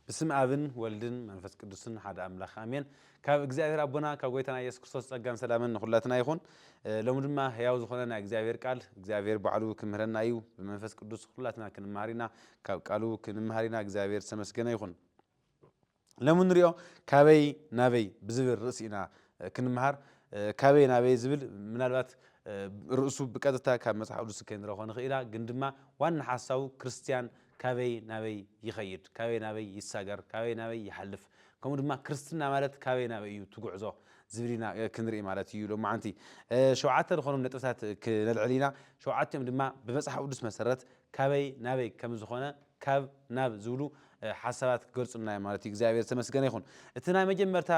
ብስም ኣብን ወልድን መንፈስ ቅዱስን ሓደ ኣምላክ ኣሜን ካብ እግዚኣብሔር ኣቦና ካብ ጎይታና ኢየሱስ ክርስቶስ ጸጋን ሰላምን ንኩላትና ይኩን ሎሚ ድማ ህያው ዝኮነ ናይ እግዚኣብሔር ቃል እግዚኣብሔር ባዕሉ ክምህረና እዩ ብመንፈስ ቅዱስ ኩላትና ክንመሃር ኢና ካብ ቃሉ ክንመሃር ኢና እግዚኣብሔር ዝተመስገነ ይኩን ሎሚ ንሪኦ ካበይ ናበይ ብዝብል ርእሲ ኢና ክንመሃር ካበይ ናበይ ዝብል ምናልባት ርእሱ ብቀጥታ ካብ መጽሓፍ ቅዱስ ከይንረክቦ ንኽእል ኢና ግን ድማ ዋና ሓሳቡ ክርስትያን ካበይ ናበይ ይኸይድ፣ ካበይ ናበይ ይሳገር፣ ካበይ ናበይ ይሓልፍ፣ ከምኡ ድማ ክርስትና ማለት ካበይ ናበይ እዩ እቲ ጉዕዞ ዝብል ኢና ክንርኢ ማለት እዩ። ሎማዓንቲ ሸውዓተ ዝኾኑ ነጥብታት ክነልዕል ኢና። ሸውዓቲኦም ድማ ብመጽሓፍ ቅዱስ መሰረት ካበይ ናበይ ከም ዝኾነ ካብ ናብ ዝብሉ ሓሳባት ክገልጹልና እዮም ማለት እዩ። እግዚኣብሔር ዝተመስገነ ይኹን። እቲ ናይ መጀመርታ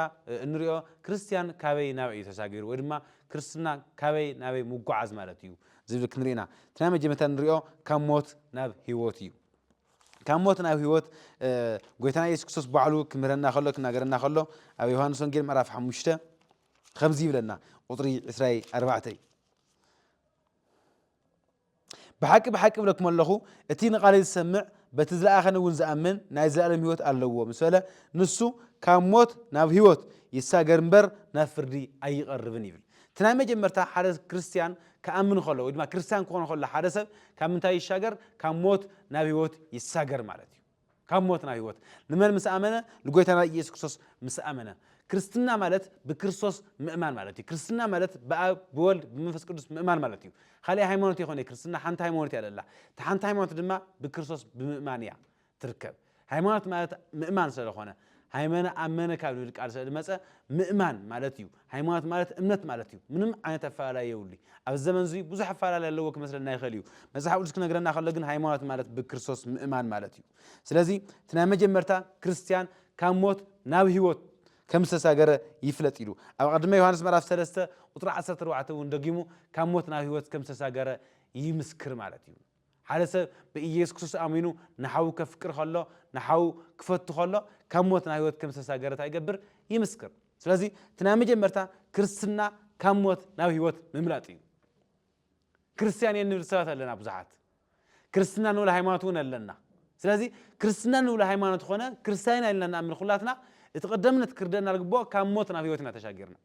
እንሪኦ ክርስትያን ካበይ ናበይ እዩ ተሳጊሩ ወይ ድማ ክርስትና ካበይ ናበይ ምጉዓዝ ማለት እዩ። ዝብል ክንርኢ ኢና እቲ ናይ መጀመርታ ንሪኦ ካብ ሞት ናብ ህይወት እዩ ካብ ሞት ናብ ህይወት ጎይታና የሱስ ክርስቶስ ባዕሉ ክምህረና ከሎ ክናገረና ከሎ ኣብ ዮሃንስ ወንጌል ምዕራፍ ሓሙሽተ ከምዚ ይብለና ቁፅሪ ዕስራይ ኣርባዕተይ ብሓቂ ብሓቂ ብለኩም ኣለኹ እቲ ንቓለይ ዝሰምዕ በቲ ዝለኣኸኒ እውን ዝኣምን ናይ ዘለኣለም ህይወት ኣለዎ ምስ በለ ንሱ ካብ ሞት ናብ ህይወት ይሳገር እምበር ናብ ፍርዲ ኣይቐርብን ይብል እቲ ናይ መጀመርታ ሓደ ክርስትያን ክኣምን ከሎ ወይ ድማ ክርስትያን ክኾን ከሎ ሓደ ሰብ ካብ ምንታይ ይሻገር ካብ ሞት ናብ ህይወት ይሳገር ማለት እዩ ካብ ሞት ናብ ህይወት ንመን ምስ ኣመነ ንጎይታና ኢየሱስ ክርስቶስ ምስ ኣመነ ክርስትና ማለት ብክርስቶስ ምእማን ማለት እዩ ክርስትና ማለት ብኣብ ብወልድ ብመንፈስ ቅዱስ ምእማን ማለት እዩ ካልእ ሃይማኖት ይኮነ ክርስትና ሓንቲ ሃይማኖት እያ ለላ እቲ ሓንቲ ሃይማኖት ድማ ብክርስቶስ ብምእማን እያ ትርከብ ሃይማኖት ማለት ምእማን ሰለኾነ ሃይመነ ኣመነ ካብ ልብል ቃል ስለ ዝመፀ ምእማን ማለት እዩ ሃይማኖት ማለት እምነት ማለት እዩ ምንም ዓይነት ኣፈላላይ የብሉይ ኣብዚ ዘመን እዙይ ብዙሕ ኣፈላላይ ኣለዎ ክመስለና ይኽእል እዩ መፅሓፍ ቅዱስ ክነግረና ከሎ ግን ሃይማኖት ማለት ብክርስቶስ ምእማን ማለት እዩ ስለዚ እቲ ናይ መጀመርታ ክርስትያን ካብ ሞት ናብ ህይወት ከም ዝተሳገረ ይፍለጥ ኢሉ ኣብ ቀድመ ዮሃንስ ምዕራፍ 3 ቁፅሪ 14 እውን ደጊሙ ካብ ሞት ናብ ህይወት ከም ዝተሳገረ ይምስክር ማለት እዩ ሓደ ሰብ ብኢየሱስ ክርስቶስ ኣሚኑ ንሓዉ ከፍቅር ከሎ ንሓዉ ክፈቱ ከሎ ካብ ሞት ናብ ህይወት ከም ዝተሳገረ እንታይ ይገብር ይምስክር ስለዚ እቲ ናይ መጀመርታ ክርስትና ካብ ሞት ናብ ህይወት ምምላጥ እዩ ክርስትያን እየ ንብል ሰባት ኣለና ብዙሓት ክርስትና ንብል ሃይማኖት እውን ኣለና ስለዚ ክርስትና ንብሎ ሃይማኖት ኮነ ክርስትያን ኢልና ንኣምን ኩላትና እቲ ቀደምነት ክርደና ዝግብኦ ካብ ሞት ናብ ህይወት ኢና ተሻጊርና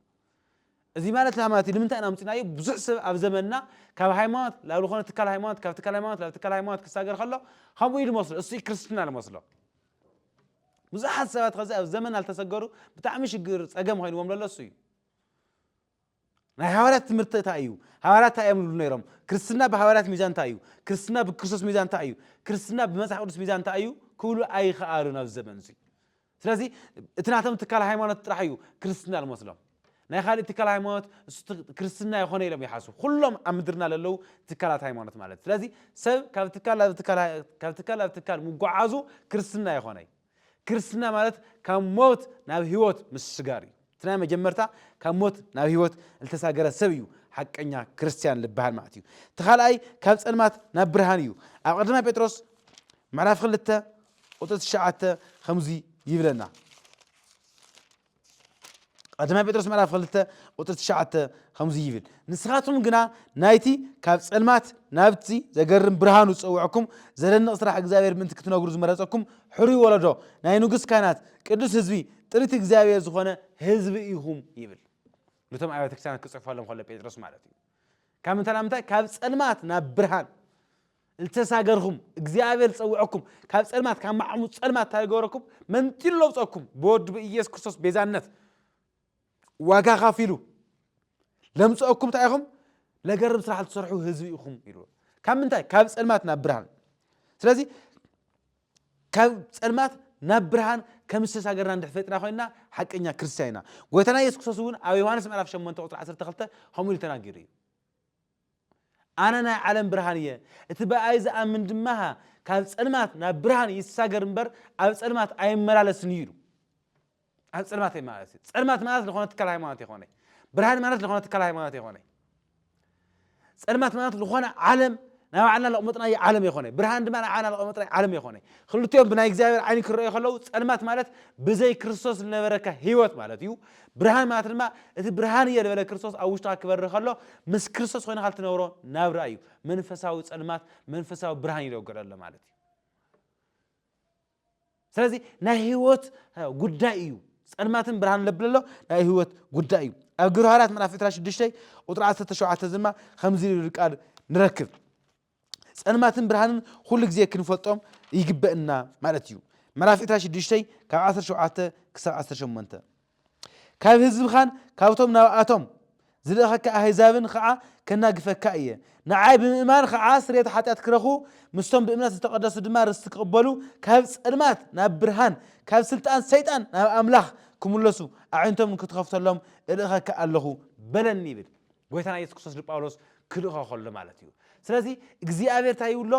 እዚ ማለት እንታይ ማለት እዩ ንምንታይ ኢና ኣምጺናዮ ብዙሕ ሰብ ኣብ ዘመንና ካብ ሃይማኖት ናብ ዝኾነ ትካል ሃይማኖት ካብ ትካል ሃይማኖት ናብ ትካል ሃይማኖት ክሳገር ከሎ ከምኡ እዩ ዝመስሎ እሱ እዩ ክርስትና ዝመስሎ ብዙሓት ሰባት ከዚ ኣብ ዘመንና ዝተሰገሩ ብጣዕሚ ሽግር ጸገም ኮይንዎም ዘሎ እሱ እዩ ናይ ሃዋርያት ትምህርቲ እንታይ እዩ ሃዋርያት እንታይ እዮም ዝብሉ ነይሮም ክርስትና ብሃዋርያት ሚዛን እንታይ እዩ ክርስትና ብክርስቶስ ሚዛን እንታይ እዩ ክርስትና ብመጽሓፍ ቅዱስ ሚዛን እንታይ እዩ ክብሉ ኣይኸኣሉን ኣብ ዘመን እዚ ስለዚ እቲ ናቶም ትካል ሃይማኖት ጥራሕ እዩ ክርስትና ልመስሎም ናይ ኻሊእ ትካል ሃይማኖት ክርስትና ይኾነ ኢሎም ይሓሱ ኩሎም ኣብ ምድርና ለለዉ ትካላት ሃይማኖት ማለት ስለዚ ሰብ ካብ ትካል ናብ ካብ ትካል ናብ ትካል ምጓዓዙ ክርስትና ይኾነ ክርስትና ማለት ካብ ሞት ናብ ህይወት ምስሽጋር እዩ እቲ ናይ መጀመርታ ካብ ሞት ናብ ህይወት ልተሳገረ ሰብ እዩ ሓቀኛ ክርስትያን ልበሃል ማለት እዩ እቲ ካልኣይ ካብ ጸልማት ናብ ብርሃን እዩ ኣብ ቀዳማይ ጴጥሮስ ምዕራፍ ክልተ ቁጥሪ ትሽዓተ ከምዙይ ይብለና ቀዳማይ ጴጥሮስ ምዕራፍ ክልተ ቁጥሪ ትሽዓተ ከምዙይ ይብል ንስኻትኩም ግና ናይቲ ካብ ጸልማት ናብቲ ዘገርም ብርሃኑ ዝጸውዐኩም ዘደንቕ ስራሕ እግዚኣብሔር ምእንቲ ክትነግሩ ዝመረጸኩም ሕሩይ ወለዶ ናይ ንጉስ ካህናት ቅዱስ ህዝቢ ጥሪት እግዚኣብሔር ዝኾነ ህዝቢ ኢኹም ይብል ነቶም ኣብያተ ክርስቲያናት ክጽሕፈሎም ከሎ ጴጥሮስ ማለት እዩ ካብ ምንታይ ናብ ምንታይ ካብ ጸልማት ናብ ብርሃን ዝተሳገርኩም እግዚኣብሔር ዝጸውዐኩም ካብ ጸልማት ካብ ማዕሙ ጸልማት እንታይ ገበረኩም መንጢሉ ለውጸኩም ብወዱ ብኢየሱስ ክርስቶስ ቤዛነት ዋጋ ካፊሉ ለምጸአኩም እንታይ ኢኹም ለገርም ስራሕ ትሰርሑ ህዝቢ ኢኹም ኢሉ ካብ ምንታይ ካብ ጸልማት ናብ ብርሃን ስለዚ ካብ ጸልማት ናብ ብርሃን ከም ዝተሳገርና እንድሕር ፈሊጥና ኮይንና ሓቀኛ ክርስትያን ኢና። ጎይታና የሱስ ክርስቶስ እውን ኣብ ዮሃንስ ምዕራፍ ሸሞንተ ቁጽሪ ዓሰርተ ክልተ ከምኡ ኢሉ ተናጊሩ እዩ። ኣነ ናይ ዓለም ብርሃን እየ፣ እቲ ብኣይ ዝኣምን ድማ ካብ ጸልማት ናብ ብርሃን ይሳገር እምበር ኣብ ጸልማት ኣይመላለስን እዩ ኢሉ። ኣብ ጸልማት እየ ማለት እዩ ጸልማት ማለት ዝኾነ ትካል ሃይማኖት ይኾነ ብርሃን ማለት ዝኾነ ትካል ሃይማኖት ይኾነ ጸልማት ማለት ዝኾነ ዓለም ናይ ባዕልና ለቕመጥናዮ ዓለም ይኾነ ብርሃን ድማ ናይ ባዕልና ለቕመጥናዮ ዓለም ይኾነ ክልቲኦም ብናይ እግዚኣብሔር ዓይኒ ክረኣዩ ከለዉ ጸልማት ማለት ብዘይ ክርስቶስ ዝነበረካ ህይወት ማለት እዩ ብርሃን ማለት ድማ እቲ ብርሃን እየ ዝበለ ክርስቶስ ኣብ ውሽጥካ ክበሪ ከሎ ምስ ክርስቶስ ኮይንካ ልትነብሮ ናብራ እዩ መንፈሳዊ ጸልማት መንፈሳዊ ብርሃን ይለገለሎ ማለት እዩ ስለዚ ናይ ህይወት ጉዳይ እዩ ጸልማትን ብርሃን ለብል ኣሎ ናይ ህይወት ጉዳይ እዩ ኣብ ግብረ ሃዋርያት ምዕራፍ 26 ቁጥሪ 17 ድማ ከምዚ ዝብል ቃል ንረክብ ጸልማትን ብርሃንን ኩሉ ግዜ ክንፈልጦም ይግበእና ማለት እዩ ምዕራፍ 26 ካብ 17 ክሳብ 18 ካብ ህዝብኻን ካብቶም ናብኣቶም ዝልእኸካ ኣህዛብን ኸዓ ከናግፈካ እየ። ንዓይ ብምእማን ኸዓ ስርየት ሓጢኣት ክረኽቡ፣ ምስቶም ብእምነት ዝተቐደሱ ድማ ርስቲ ክቕበሉ፣ ካብ ፀልማት ናብ ብርሃን፣ ካብ ስልጣን ሰይጣን ናብ ኣምላኽ ክምለሱ፣ ኣዒንቶም ንክትኸፍተሎም እልእኸካ ኣለኹ በለኒ ይብል። ጎይታና ኢየሱስ ክርስቶስ ንጳውሎስ ክልእኾ ከሎ ማለት እዩ ስለዚ እግዚኣብሔር እንታይ ይብሎ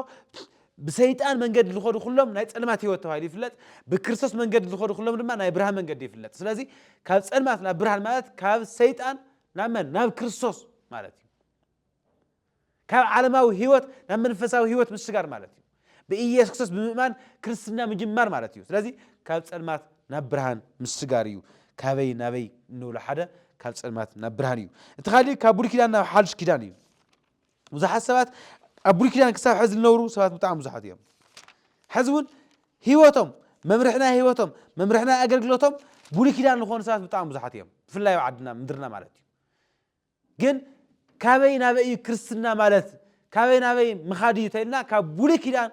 ብሰይጣን መንገዲ ዝኸዱ ኩሎም ናይ ፀልማት ህይወት ተባሂሉ ይፍለጥ ብክርስቶስ መንገዲ ዝኸዱ ኩሎም ድማ ናይ ብርሃን መንገዲ ይፍለጥ ስለዚ ካብ ፀልማት ናብ ብርሃን ማለት ካብ ሰይጣን ናብ መን ናብ ክርስቶስ ማለት እዩ ካብ ዓለማዊ ህይወት ናብ መንፈሳዊ ህይወት ምሽጋር ማለት እዩ። ብኢየሱስ ክርስቶስ ብምእማን ክርስትና ምጅማር ማለት እዩ። ስለዚ ካብ ጸልማት ናብ ብርሃን ምሽጋር እዩ። ካበይ ናበይ እንብሎ ሓደ ካብ ጸልማት ናብ ብርሃን እዩ። እቲ ካልእ ካብ ብሉይ ኪዳን ናብ ሓድሽ ኪዳን እዩ። ብዙሓት ሰባት ኣብ ብሉይ ኪዳን ክሳብ ሕዚ ዝነብሩ ሰባት ብጣዕሚ ብዙሓት እዮም። ሕዚ እውን ህይወቶም መምርሕና ህይወቶም መምርሕና ኣገልግሎቶም ብሉይ ኪዳን ዝኾኑ ሰባት ብጣዕሚ ብዙሓት እዮም። ብፍላይ ኣብ ዓድና ምድርና ማለት እዩ። ግን ካበይ ናበይ እዩ ክርስትና ማለት ካበይ ናበይ ምኻድ እዩ ተልና ካብ ብሉይ ኪዳን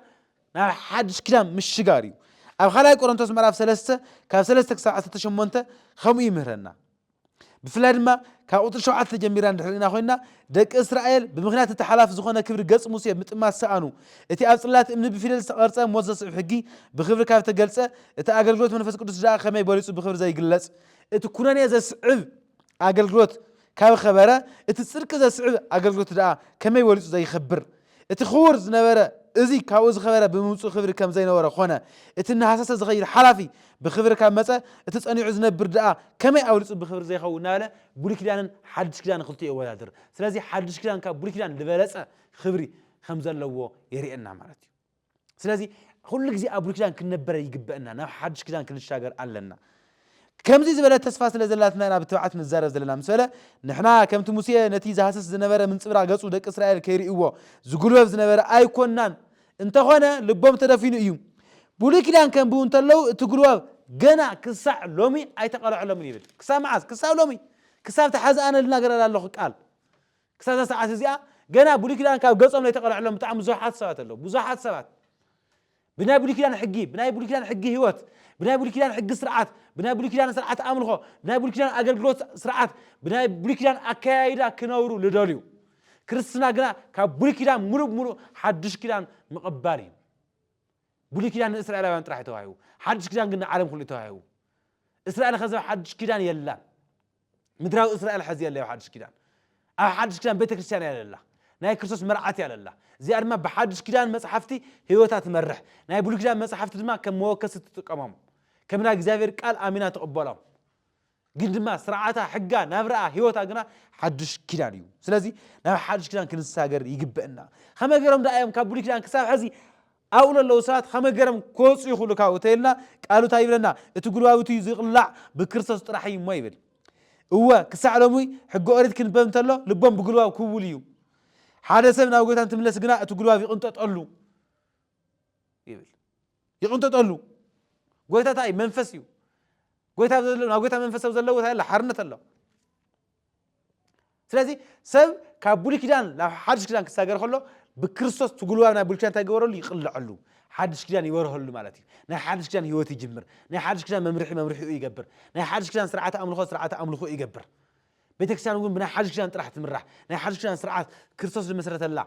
ናብ ሓድሽ ኪዳን ምሽጋር እዩ ኣብ ካልኣይ ቆሮንቶስ ምዕራፍ ሰለስተ ካብ ሰለስተ ክሳብ ዓሰርተ ሸሞንተ ከምኡ ይምህረና ብፍላይ ድማ ካብ ቁፅሪ ሸውዓተ ተጀሚርና እንድሕር ኢና ኮይንና ደቂ እስራኤል ብምክንያት እቲ ሓላፊ ዝኾነ ክብሪ ገፅ ሙሴ ምጥማት ሰኣኑ እቲ ኣብ ፅላት እምኒ ብፊደል ዝተቐርፀ ሞት ዘስዕብ ሕጊ ብክብሪ ካብ ተገልፀ እቲ ኣገልግሎት መንፈስ ቅዱስ ድኣ ከመይ በሊፁ ብክብሪ ዘይግለፅ እቲ ኩነኔ ዘስዕብ ኣገልግሎት ካብ ኸበረ እቲ ጽድቂ ዘስዕብ ኣገልግሎት ደኣ ከመይ በሊጹ ዘይኸብር። እቲ ክቡር ዝነበረ እዚ ካብኡ ዝኸበረ ብምምጽኡ ክብሪ ከም ዘይነበሮ ኮነ። እቲ እናሃሰሰ ዝኸይድ ሓላፊ ብኽብሪ ካብ መጸ እቲ ጸኒዑ ዝነብር ደኣ ከመይ ኣብሊጹ ብኽብሪ ዘይኸውን እናበለ ብሉይ ኪዳንን ሓድሽ ኪዳንን ክልቲኡ የወዳድር። ስለዚ ሓድሽ ኪዳን ካብ ብሉይ ኪዳን ልበለጸ ክብሪ ከም ዘለዎ የርእየና ማለት እዩ። ስለዚ ኩሉ ግዜ ኣብ ብሉይ ኪዳን ክንነበረ ይግበእና ናብ ሓድሽ ኪዳን ክንሻገር ኣለና ከምዚ ዝበለ ተስፋ ስለ ዘላትና ኢና ብትብዓት ንዛረብ ዘለና ምስ በለ ንሕና ከምቲ ሙሴ ነቲ ዝሃስስ ዝነበረ ምንጽብራቕ ገጹ ደቂ እስራኤል ከይርእይዎ ዝጉልበብ ዝነበረ ኣይኮናን እንተኾነ ልቦም ተደፊኑ እዩ ብሉይ ኪዳን ከንብቡ እንተለዉ እቲ ጉልባብ ገና ክሳዕ ሎሚ ኣይተቐልዐሎምን ይብል ክሳብ መዓዝ ክሳብ ሎሚ ክሳብ ተሓዝኣነልና ገረላ ኣለኹ ቃል ክሳብ እዛ ሰዓት እዚኣ ገና ብሉይ ኪዳን ካብ ገጾም ዘይተቐልዐሎም ብጣዕሚ ብዙሓት ሰባት ኣለዉ። ብዙሓት ሰባት ብናይ ብሉይ ኪዳን ሕጊ፣ ብናይ ብሉይ ኪዳን ሕጊ ህይወት፣ ብናይ ብሉይ ኪዳን ሕጊ ስርዓት፣ ብናይ ብሉይ ኪዳን ስርዓት ኣምልኾ፣ ብናይ ብሉይ ኪዳን ኣገልግሎት ስርዓት፣ ብናይ ብሉይ ኪዳን ኣከያይዳ ክነብሩ ልደልዩ። ክርስትና ግና ካብ ብሉይ ኪዳን ምሉእ ብምሉእ ሓድሽ ኪዳን ምቕባል እዩ። ብሉይ ኪዳን ንእስራኤላውያን ጥራሕ ተዋሂቡ፣ ሓድሽ ኪዳን ግን ንዓለም ኩሉ ተዋሂቡ። እስራኤል ከዘብ ሓድሽ ኪዳን የላን። ምድራዊ እስራኤል ሐዚ የለ ኣብ ሓድሽ ኪዳን ኣብ ሓድሽ ኪዳን ቤተ ክርስቲያን እያ ለላ ናይ ክርስቶስ መርዓት እያ ለላ እዚኣ ድማ ብሓድሽ ኪዳን መጽሓፍቲ ህይወታ ትመርሕ ናይ ብሉይ ኪዳን መጽሓፍቲ ድማ ከም መወከሲ ትጥቀሞም ከም ናይ እግዚኣብሔር ቃል ኣሚና ትቕበሎም ግን ድማ ስርዓታ ሕጋ ናብራኣ ህይወታ ግና ሓድሽ ኪዳን እዩ ስለዚ ናብ ሓድሽ ኪዳን ክንሳገር ይግበእና ከመይ ገይሮም ደኣ እዮም ካብ ብሉይ ኪዳን ክሳብ ሕዚ ኣብኡ ለለዉ ሰባት ኸመ ገረም ክወጹ ይኽእሉ ካብ እቲ ልና ቃሉ ታይ ይብለና እቲ ጉልባብ እትዩ ዝቕላዕ ብክርስቶስ ጥራሕ እዩ እሞ ይብል እወ ክሳዕ ሎሙይ ሕገ ኦሪት ክንበብ እንተሎ ልቦም ብጉልባብ ክውል እዩ ሓደ ሰብ ናብ ጎይታ እንትምለስ ግና እቲ ጉልባብ ይቕንጠጠሉ ይብል ይቕንጠጠሉ ጎይታ ታይ መንፈስ እዩ ጎይታ ናብ ጎይታ መንፈሰብ ዘለዎ ታይ ኣሎ ሓርነት ኣሎ ስለዚ ሰብ ካብ ብሉይ ኪዳን ናብ ሓድሽ ኪዳን ክሳገር ከሎ ብክርስቶስ ትጉልባብ ናይ ብሉይ ኪዳን እንታይ ይገበረሉ ይቕልዐሉ ሓድሽ ኪዳን ይበርሀሉ ማለት እዩ ናይ ሓድሽ ኪዳን ህይወት ይጅምር ናይ ሓድሽ ኪዳን መምርሒ መምርሒኡ ይገብር ናይ ሓድሽ ኪዳን ስርዓተ ኣምልኾ ስርዓተ ኣምልኾ ይገብር ቤተክርስትያን እውን ብናይ ሓድሽ ኪዳን ጥራሕ ትምራሕ ናይ ሓድሽ ኪዳን ስርዓት ክርስቶስ ዝመሰረተላ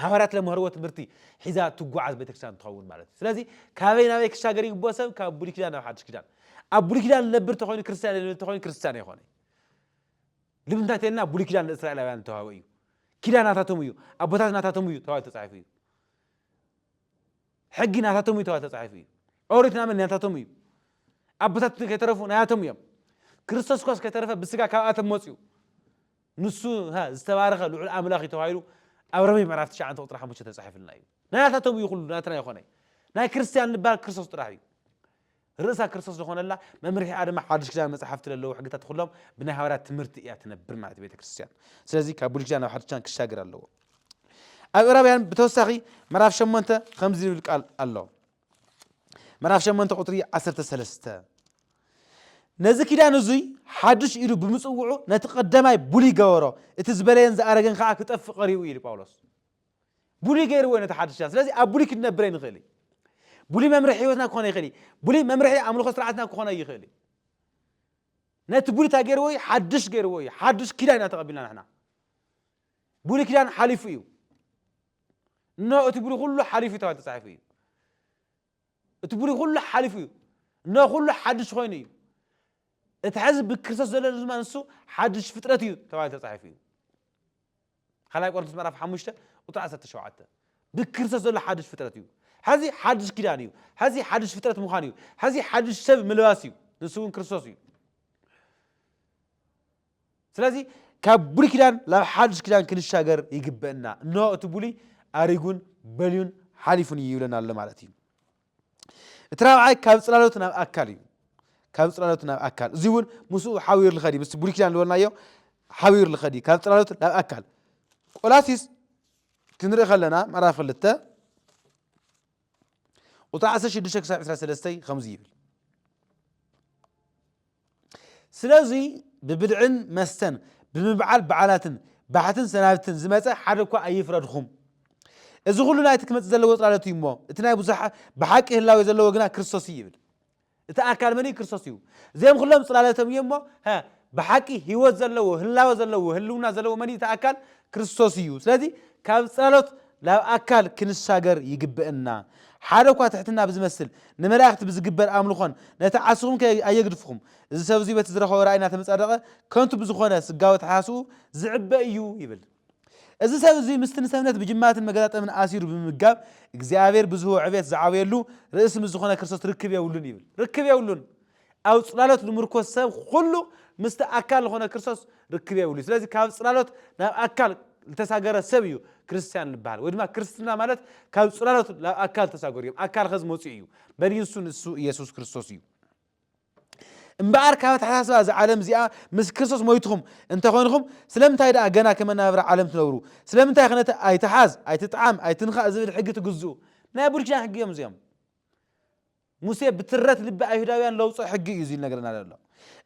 ሃዋርያት ለምሀርዎ ትምህርቲ ሒዛ ትጓዓዝ ቤተክርስትያን ትኸውን ማለት እዩ ስለዚ ካበይ ናበይ ክሻገር ይግብኦ ሰብ ካብ ብሉይ ኪዳን ናብ ሓድሽ ኪዳን ኣብ ብሉይ ኪዳን ዝነብር ተኮይኑ ክርስትያን ዝነብር ተኮይኑ ክርስትያን ኣይኮነ ልምንታይ ተልና ብሉይ ኪዳን ንእስራኤላውያን ዝተዋህበ እዩ ኪዳን ናታቶም እዩ ኣቦታት ናታቶም እዩ ተባሂሉ ተፃሒፉ እዩ ሕጊ ናታቶም እዩ ተባሂሉ ተፃሒፉ እዩ ኦሪት ናመን ናታቶም እዩ ኣቦታት ከይተረፉ ናያቶም እዮም ክርስቶስ ኳስ ከይተረፈ ብስጋ ካብኣቶም መፅኡ ንሱ እታ ዝተባረኸ ልዑል ኣምላኽ እዩ ተባሂሉ ኣብ ሮሜ ምዕራፍ ትሽዓተ ቁጽሪ ሓሙሽተ ተጻሒፍልና እዩ። ናታቶም እዩ ኩሉ ናትና ይኾነ። ናይ ክርስትያን ልባ ክርስቶስ ጥራሕ እዩ። ርእሳ ክርስቶስ ዝኾነላ መምርሒኣ ድማ ሓድሽ ኪዳን መጽሓፍቲ ለለዉ ሕግታት ኩሎም ብናይ ሃዋርያት ትምህርቲ እያ ትነብር ማለት ቤተ ክርስትያን። ስለዚ ካብ ብሉይ ኪዳን ናብ ሓድሽ ኪዳን ክሻገር ኣለዎ። ኣብ ዕብራውያን ብተወሳኺ ምዕራፍ ሸሞንተ ከምዚ ዝብል ቃል ኣሎ። ምዕራፍ ሸሞንተ ቁጽሪ ዓሰርተ ሰለስተ ነዚ ኪዳን እዙይ ሓድሽ ኢሉ ብምጽውዑ ነቲ ቀዳማይ ብሉይ ገበሮ እቲ ዝበለየን ዝኣረገን ከዓ ክጠፍእ ቀሪቡ እዩ ኢሉ ጳውሎስ ብሉይ ገይርዎ ነቲ ሓድሽ ኪዳን ስለዚ ኣብ ብሉይ ክንነብር ኣይንኽእል እዩ ብሉይ መምርሒ ህይወትና ክኾነ ይኽእል እዩ ብሉይ መምርሒ ኣምልኾ ስርዓትና ክኾነ ይኽእል እዩ ነቲ ብሉይ እንታይ ገይርዎ እዩ ሓድሽ ገይርዎ እዩ ሓድሽ ኪዳን ኢና ተቐቢልና ንሕና ብሉይ ኪዳን ሓሊፉ እዩ እነሆ እቲ ብሉይ ኩሉ ሓሊፉ እዩ ተባሂሉ ተጻሒፉ እዩ እቲ ብሉይ ኩሉ ሓሊፉ እዩ እነሆ ኩሉ ሓድሽ ኮይኑ እዩ እቲ ሕዚ ብክርስቶስ ዘሎ ድማ ንሱ ሓድሽ ፍጥረት እዩ ተባሂሉ ተጻሒፉ እዩ ካልኣይ ቆሮንቶስ ምዕራፍ ሓሙሽተ ቁጥሪ ዓሰርተ ሸውዓተ ብክርስቶስ ዘሎ ሓድሽ ፍጥረት እዩ ሕዚ ሓድሽ ኪዳን እዩ ሕዚ ሓድሽ ፍጥረት ምዃን እዩ ሕዚ ሓድሽ ሰብ ምልባስ እዩ ንሱ እውን ክርስቶስ እዩ ስለዚ ካብ ብሉይ ኪዳን ናብ ሓዱሽ ኪዳን ክንሻገር ይግበእና እነሆ እቲ ብሉይ ኣሪጉን በልዩን ሓሊፉን እዩ ይብለና ኣሎ ማለት እዩ እቲ ራብዓይ ካብ ፅላሎት ናብ ኣካል እዩ ካብ ፅላሎት ናብ ኣካል እዚ እውን ምስኡ ሓቢሩ ልኸድ እዩ ምስ ብሉይ ኪዳን ዝበልናዮ ሓቢሩ ልኸድ እዩ ካብ ፅላሎት ናብ ኣካል ቆላሲስ ክንርኢ ከለና ምዕራፍ ክልተ ቁጽሪ ዓሰርተ ሽዱሽተ ክሳብ ዕስራ ሰለስተ ከምዚ ይብል ስለዚ ብብልዕን መስተን ብምብዓል በዓላትን ባሕትን ሰናብትን ዝመጸ ሓደ እኳ ኣይፍረድኹም እዚ ኩሉ ናይቲ ክመጽእ ዘለዎ ጽላሎት እዩ እሞ እቲ ናይ ብዙሓ ብሓቂ ህላዌ ዘለዎ ግና ክርስቶስ እዩ ይብል እቲ ኣካል መን እዩ? ክርስቶስ እዩ። እዚኦም ኹሎም ጽላለቶም እዮም እሞ ሀ ብሓቂ ህይወት ዘለዎ ህላወ ዘለዎ ህልውና ዘለዎ መን እዩ? እቲ ኣካል ክርስቶስ እዩ። ስለዚ ካብ ጽላሎት ናብ ኣካል ክንሻገር ይግበእና። ሓደ እኳ ትሕትና ብዝመስል ንመላእክቲ ብዝግበር ኣምልኾን ነቲ ዓስኹም ከ ኣየግድፍኹም። እዚ ሰብ እዙይ በቲ ዝረኸቦ ራእይ እናተመጻደቐ ከንቱ ብዝኾነ ስጋዊ ኣተሓሳስብኡ ዝዕበ እዩ ይብል። እዚ ሰብ እዚ ምስቲ ንሰብነት ብጅማትን መገጣጠምን ኣሲሩ ብምምጋብ እግዚኣብሔር ብዝህቦ ዕቤት ዝዓብየሉ ርእሲ ምስ ዝኾነ ክርስቶስ ርክብ የብሉን ይብል። ርክብ የብሉን። ኣብ ጽላሎት ልምርኮስ ሰብ ኹሉ ምስቲ ኣካል ዝኾነ ክርስቶስ ርክብ የብሉ። ስለዚ ካብ ጽላሎት ናብ ኣካል ልተሳገረ ሰብ እዩ ክርስቲያን ልበሃል። ወይ ድማ ክርስትና ማለት ካብ ጽላሎት ናብ ኣካል ተሳገሩ እዮም። ኣካል ኸዚ መጺኡ እዩ። በን እዩ ንሱ ንሱ ኢየሱስ ክርስቶስ እዩ። እምበኣር ካብ ኣተሓሳስባ እዛ ዓለም እዚኣ ምስ ክርስቶስ ሞይትኹም እንተ ዀንኹም፣ ስለምንታይ ደኣ ገና ከም ኣነባብራ ዓለም ትነብሩ? ስለምንታይኸ ነቲ ኣይትሓዝ፣ ኣይትጥዓም፣ ኣይትንካእ ዚብል ሕጊ ትግዝኡ? ናይ ብሉይ ኪዳን ሕጊ እዮም እዚኦም። ሙሴ ብትረት ልቢ ኣይሁዳውያን ለውጾ ሕጊ እዩ እዚ ዝነግረና ዘሎ።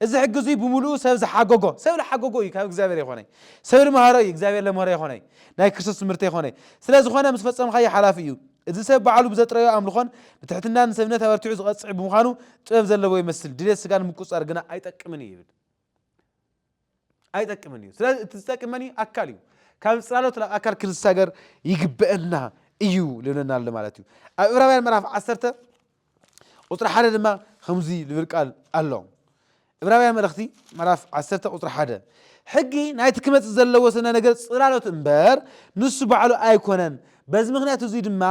እዚ ሕጊ እዙይ ብምሉኡ ሰብ ዝሓጎጎ ሰብ ዝሓጎጎ እዩ ካብ እግዚኣብሔር የኾነይ ሰብ ልምሃሮ እዩ እግዚኣብሔር ለምህሮ የኾነይ ናይ ክርስቶስ ትምህርቲ የኾነይ ስለ ዝኾነ ምስ ፈጸምኻዮ ሓላፊ እዩ እዚ ሰብ ባዕሉ ብዘጥረዮ ኣምልኾን ብትሕትናን ንሰብነት ኣበርቲዑ ዝቐጽዕ ብምዃኑ ጥበብ ዘለዎ ይመስል፣ ድሌት ስጋ ንምቁጽጻር ግና ኣይጠቅምን እዩ ይብል። ኣይጠቅምን እዩ። ስለዚ እቲ ዝጠቅም መን እዩ? ኣካል እዩ። ካብ ጽላሎት ናብ ኣካል ክንሳገር ይግበአና እዩ ልብለና ኣሎ ማለት እዩ። ኣብ ዕብራውያን ምዕራፍ ዓሰርተ ቁጽሪ ሓደ ድማ ኸምዙይ ልብል ቃል ኣሎ እብራውያ መልእኽቲ ምዕራፍ ዓሰርተ ቁፅሪ ሓደ ሕጊ ናይቲ ክመፅእ ዘለዎ ስነ ነገር ፅላሎት እምበር ንሱ ባዕሉ ኣይኮነን በዚ ምክንያት እዙይ ድማ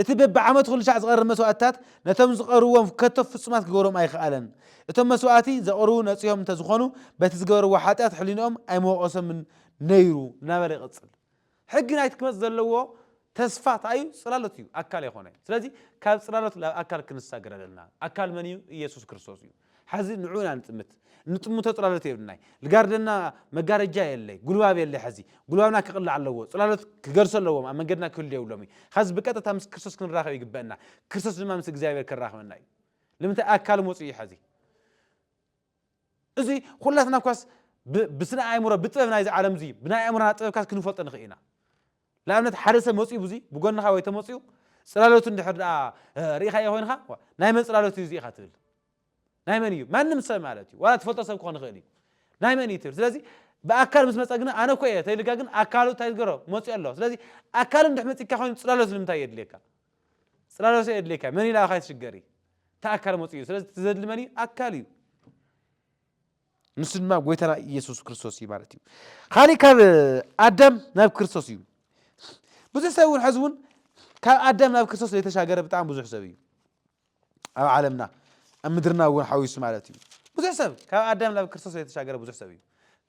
እቲ በብዓመት ኩሉ ሻዕ ዝቐርብ መስዋእትታት ነቶም ዝቐርዎም ከቶ ፍጹማት ክገብሮም ኣይክኣለን እቶም መስዋእቲ ዘቕርቡ ነፂሆም እንተዝኾኑ በቲ ዝገበርዎ ሓጢኣት ሕሊንኦም ኣይመወቐሶምን ነይሩ እናበለ ይቕፅል ሕጊ ናይቲ ክመጽእ ዘለዎ ተስፋ ተኣዩ ጽላሎት እዩ፣ ኣካል ኣይኮነን። ስለዚ ካብ ጽላሎት ናብ ኣካል ክንሳገር ኣለና። ኣካል መን እዩ? ኢየሱስ ክርስቶስ እዩ። ሐዚ ንዕኡ ኢና ንጥምት። እንጥምቶ ጽላሎት የብልናይ። ልጋርደና መጋረጃ የለይ፣ ጉልባብ የለይ ሐዚ። ጉልባብና ክቕላዕ ኣለዎ። ጽላሎት ክገድሶ ኣለዎም፣ ኣብ መንገድና ክህሉ የብሎም እዩ። ሐዚ ብቀጥታ ምስ ክርስቶስ ክንራኸብ ይግበእና። ክርስቶስ ድማ ምስ እግዚኣብሔር ከራኽበና እዩ። ልምንታይ? ኣካል መጹ እዩ ሐዚ። እዚ ኹላትና እኳስ ብ ብስነ ኣእምሮ ብጥበብ ናይዚ ዓለም እዚ ብናይ ኣእምሮና ጥበብ እኳስ ክንፈልጦ ንኽእል ኢና። ንኣብነት ሓደ ሰብ መጺኡ ብዙ ብጎንኻ ወይ ተመጺኡ ጽላሎቱ እንድሕር ደኣ ርኢኻዮ ኮይንኻ ዋእ ናይ መን ጽላሎት እዩ እዚ ኢኻ ትብል። ናይ መን እዩ ማንም ሰብ ማለት እዩ ዋላ ትፈልጦ ሰብ ክኾን ይኽእል እዩ። ናይ መን እዩ ትብል ስለዚ ብኣካል ምስ መጸ ግና ኣነ እኮ እየ ተይልካ ግን ኣካሉ እንታይ ዝገሮ መጺኡ ኣሎ ስለዚ ኣካሉ እንድሕ መጺካ ኮይኑ ጽላሎት ንምንታይ የድልየካ። ጽላሎት የድልየካ መን ኢላ ካይትሽገሪ እቲ ኣካል መጽኡ እዩ ስለዚ እቲ ዘድሊ መን እዩ ኣካል እዩ ንሱ ድማ ጎይታና ኢየሱስ ክርስቶስ እዩ ማለት እዩ ካሊእ ካብ ኣዳም ናብ ክርስቶስ እዩ ብዙሕ ሰብ እውን ሕዚ እውን ካብ ኣዳም ናብ ክርስቶስ ዘይተሻገረ ብጣዕሚ ብዙሕ ሰብ እዩ ኣብ ዓለምና ኣብ ምድርና እውን ሓዊሱ ማለት እዩ ብዙሕ ሰብ ካብ ኣዳም ናብ ክርስቶስ ዘይተሻገረ ብዙሕ ሰብ እዩ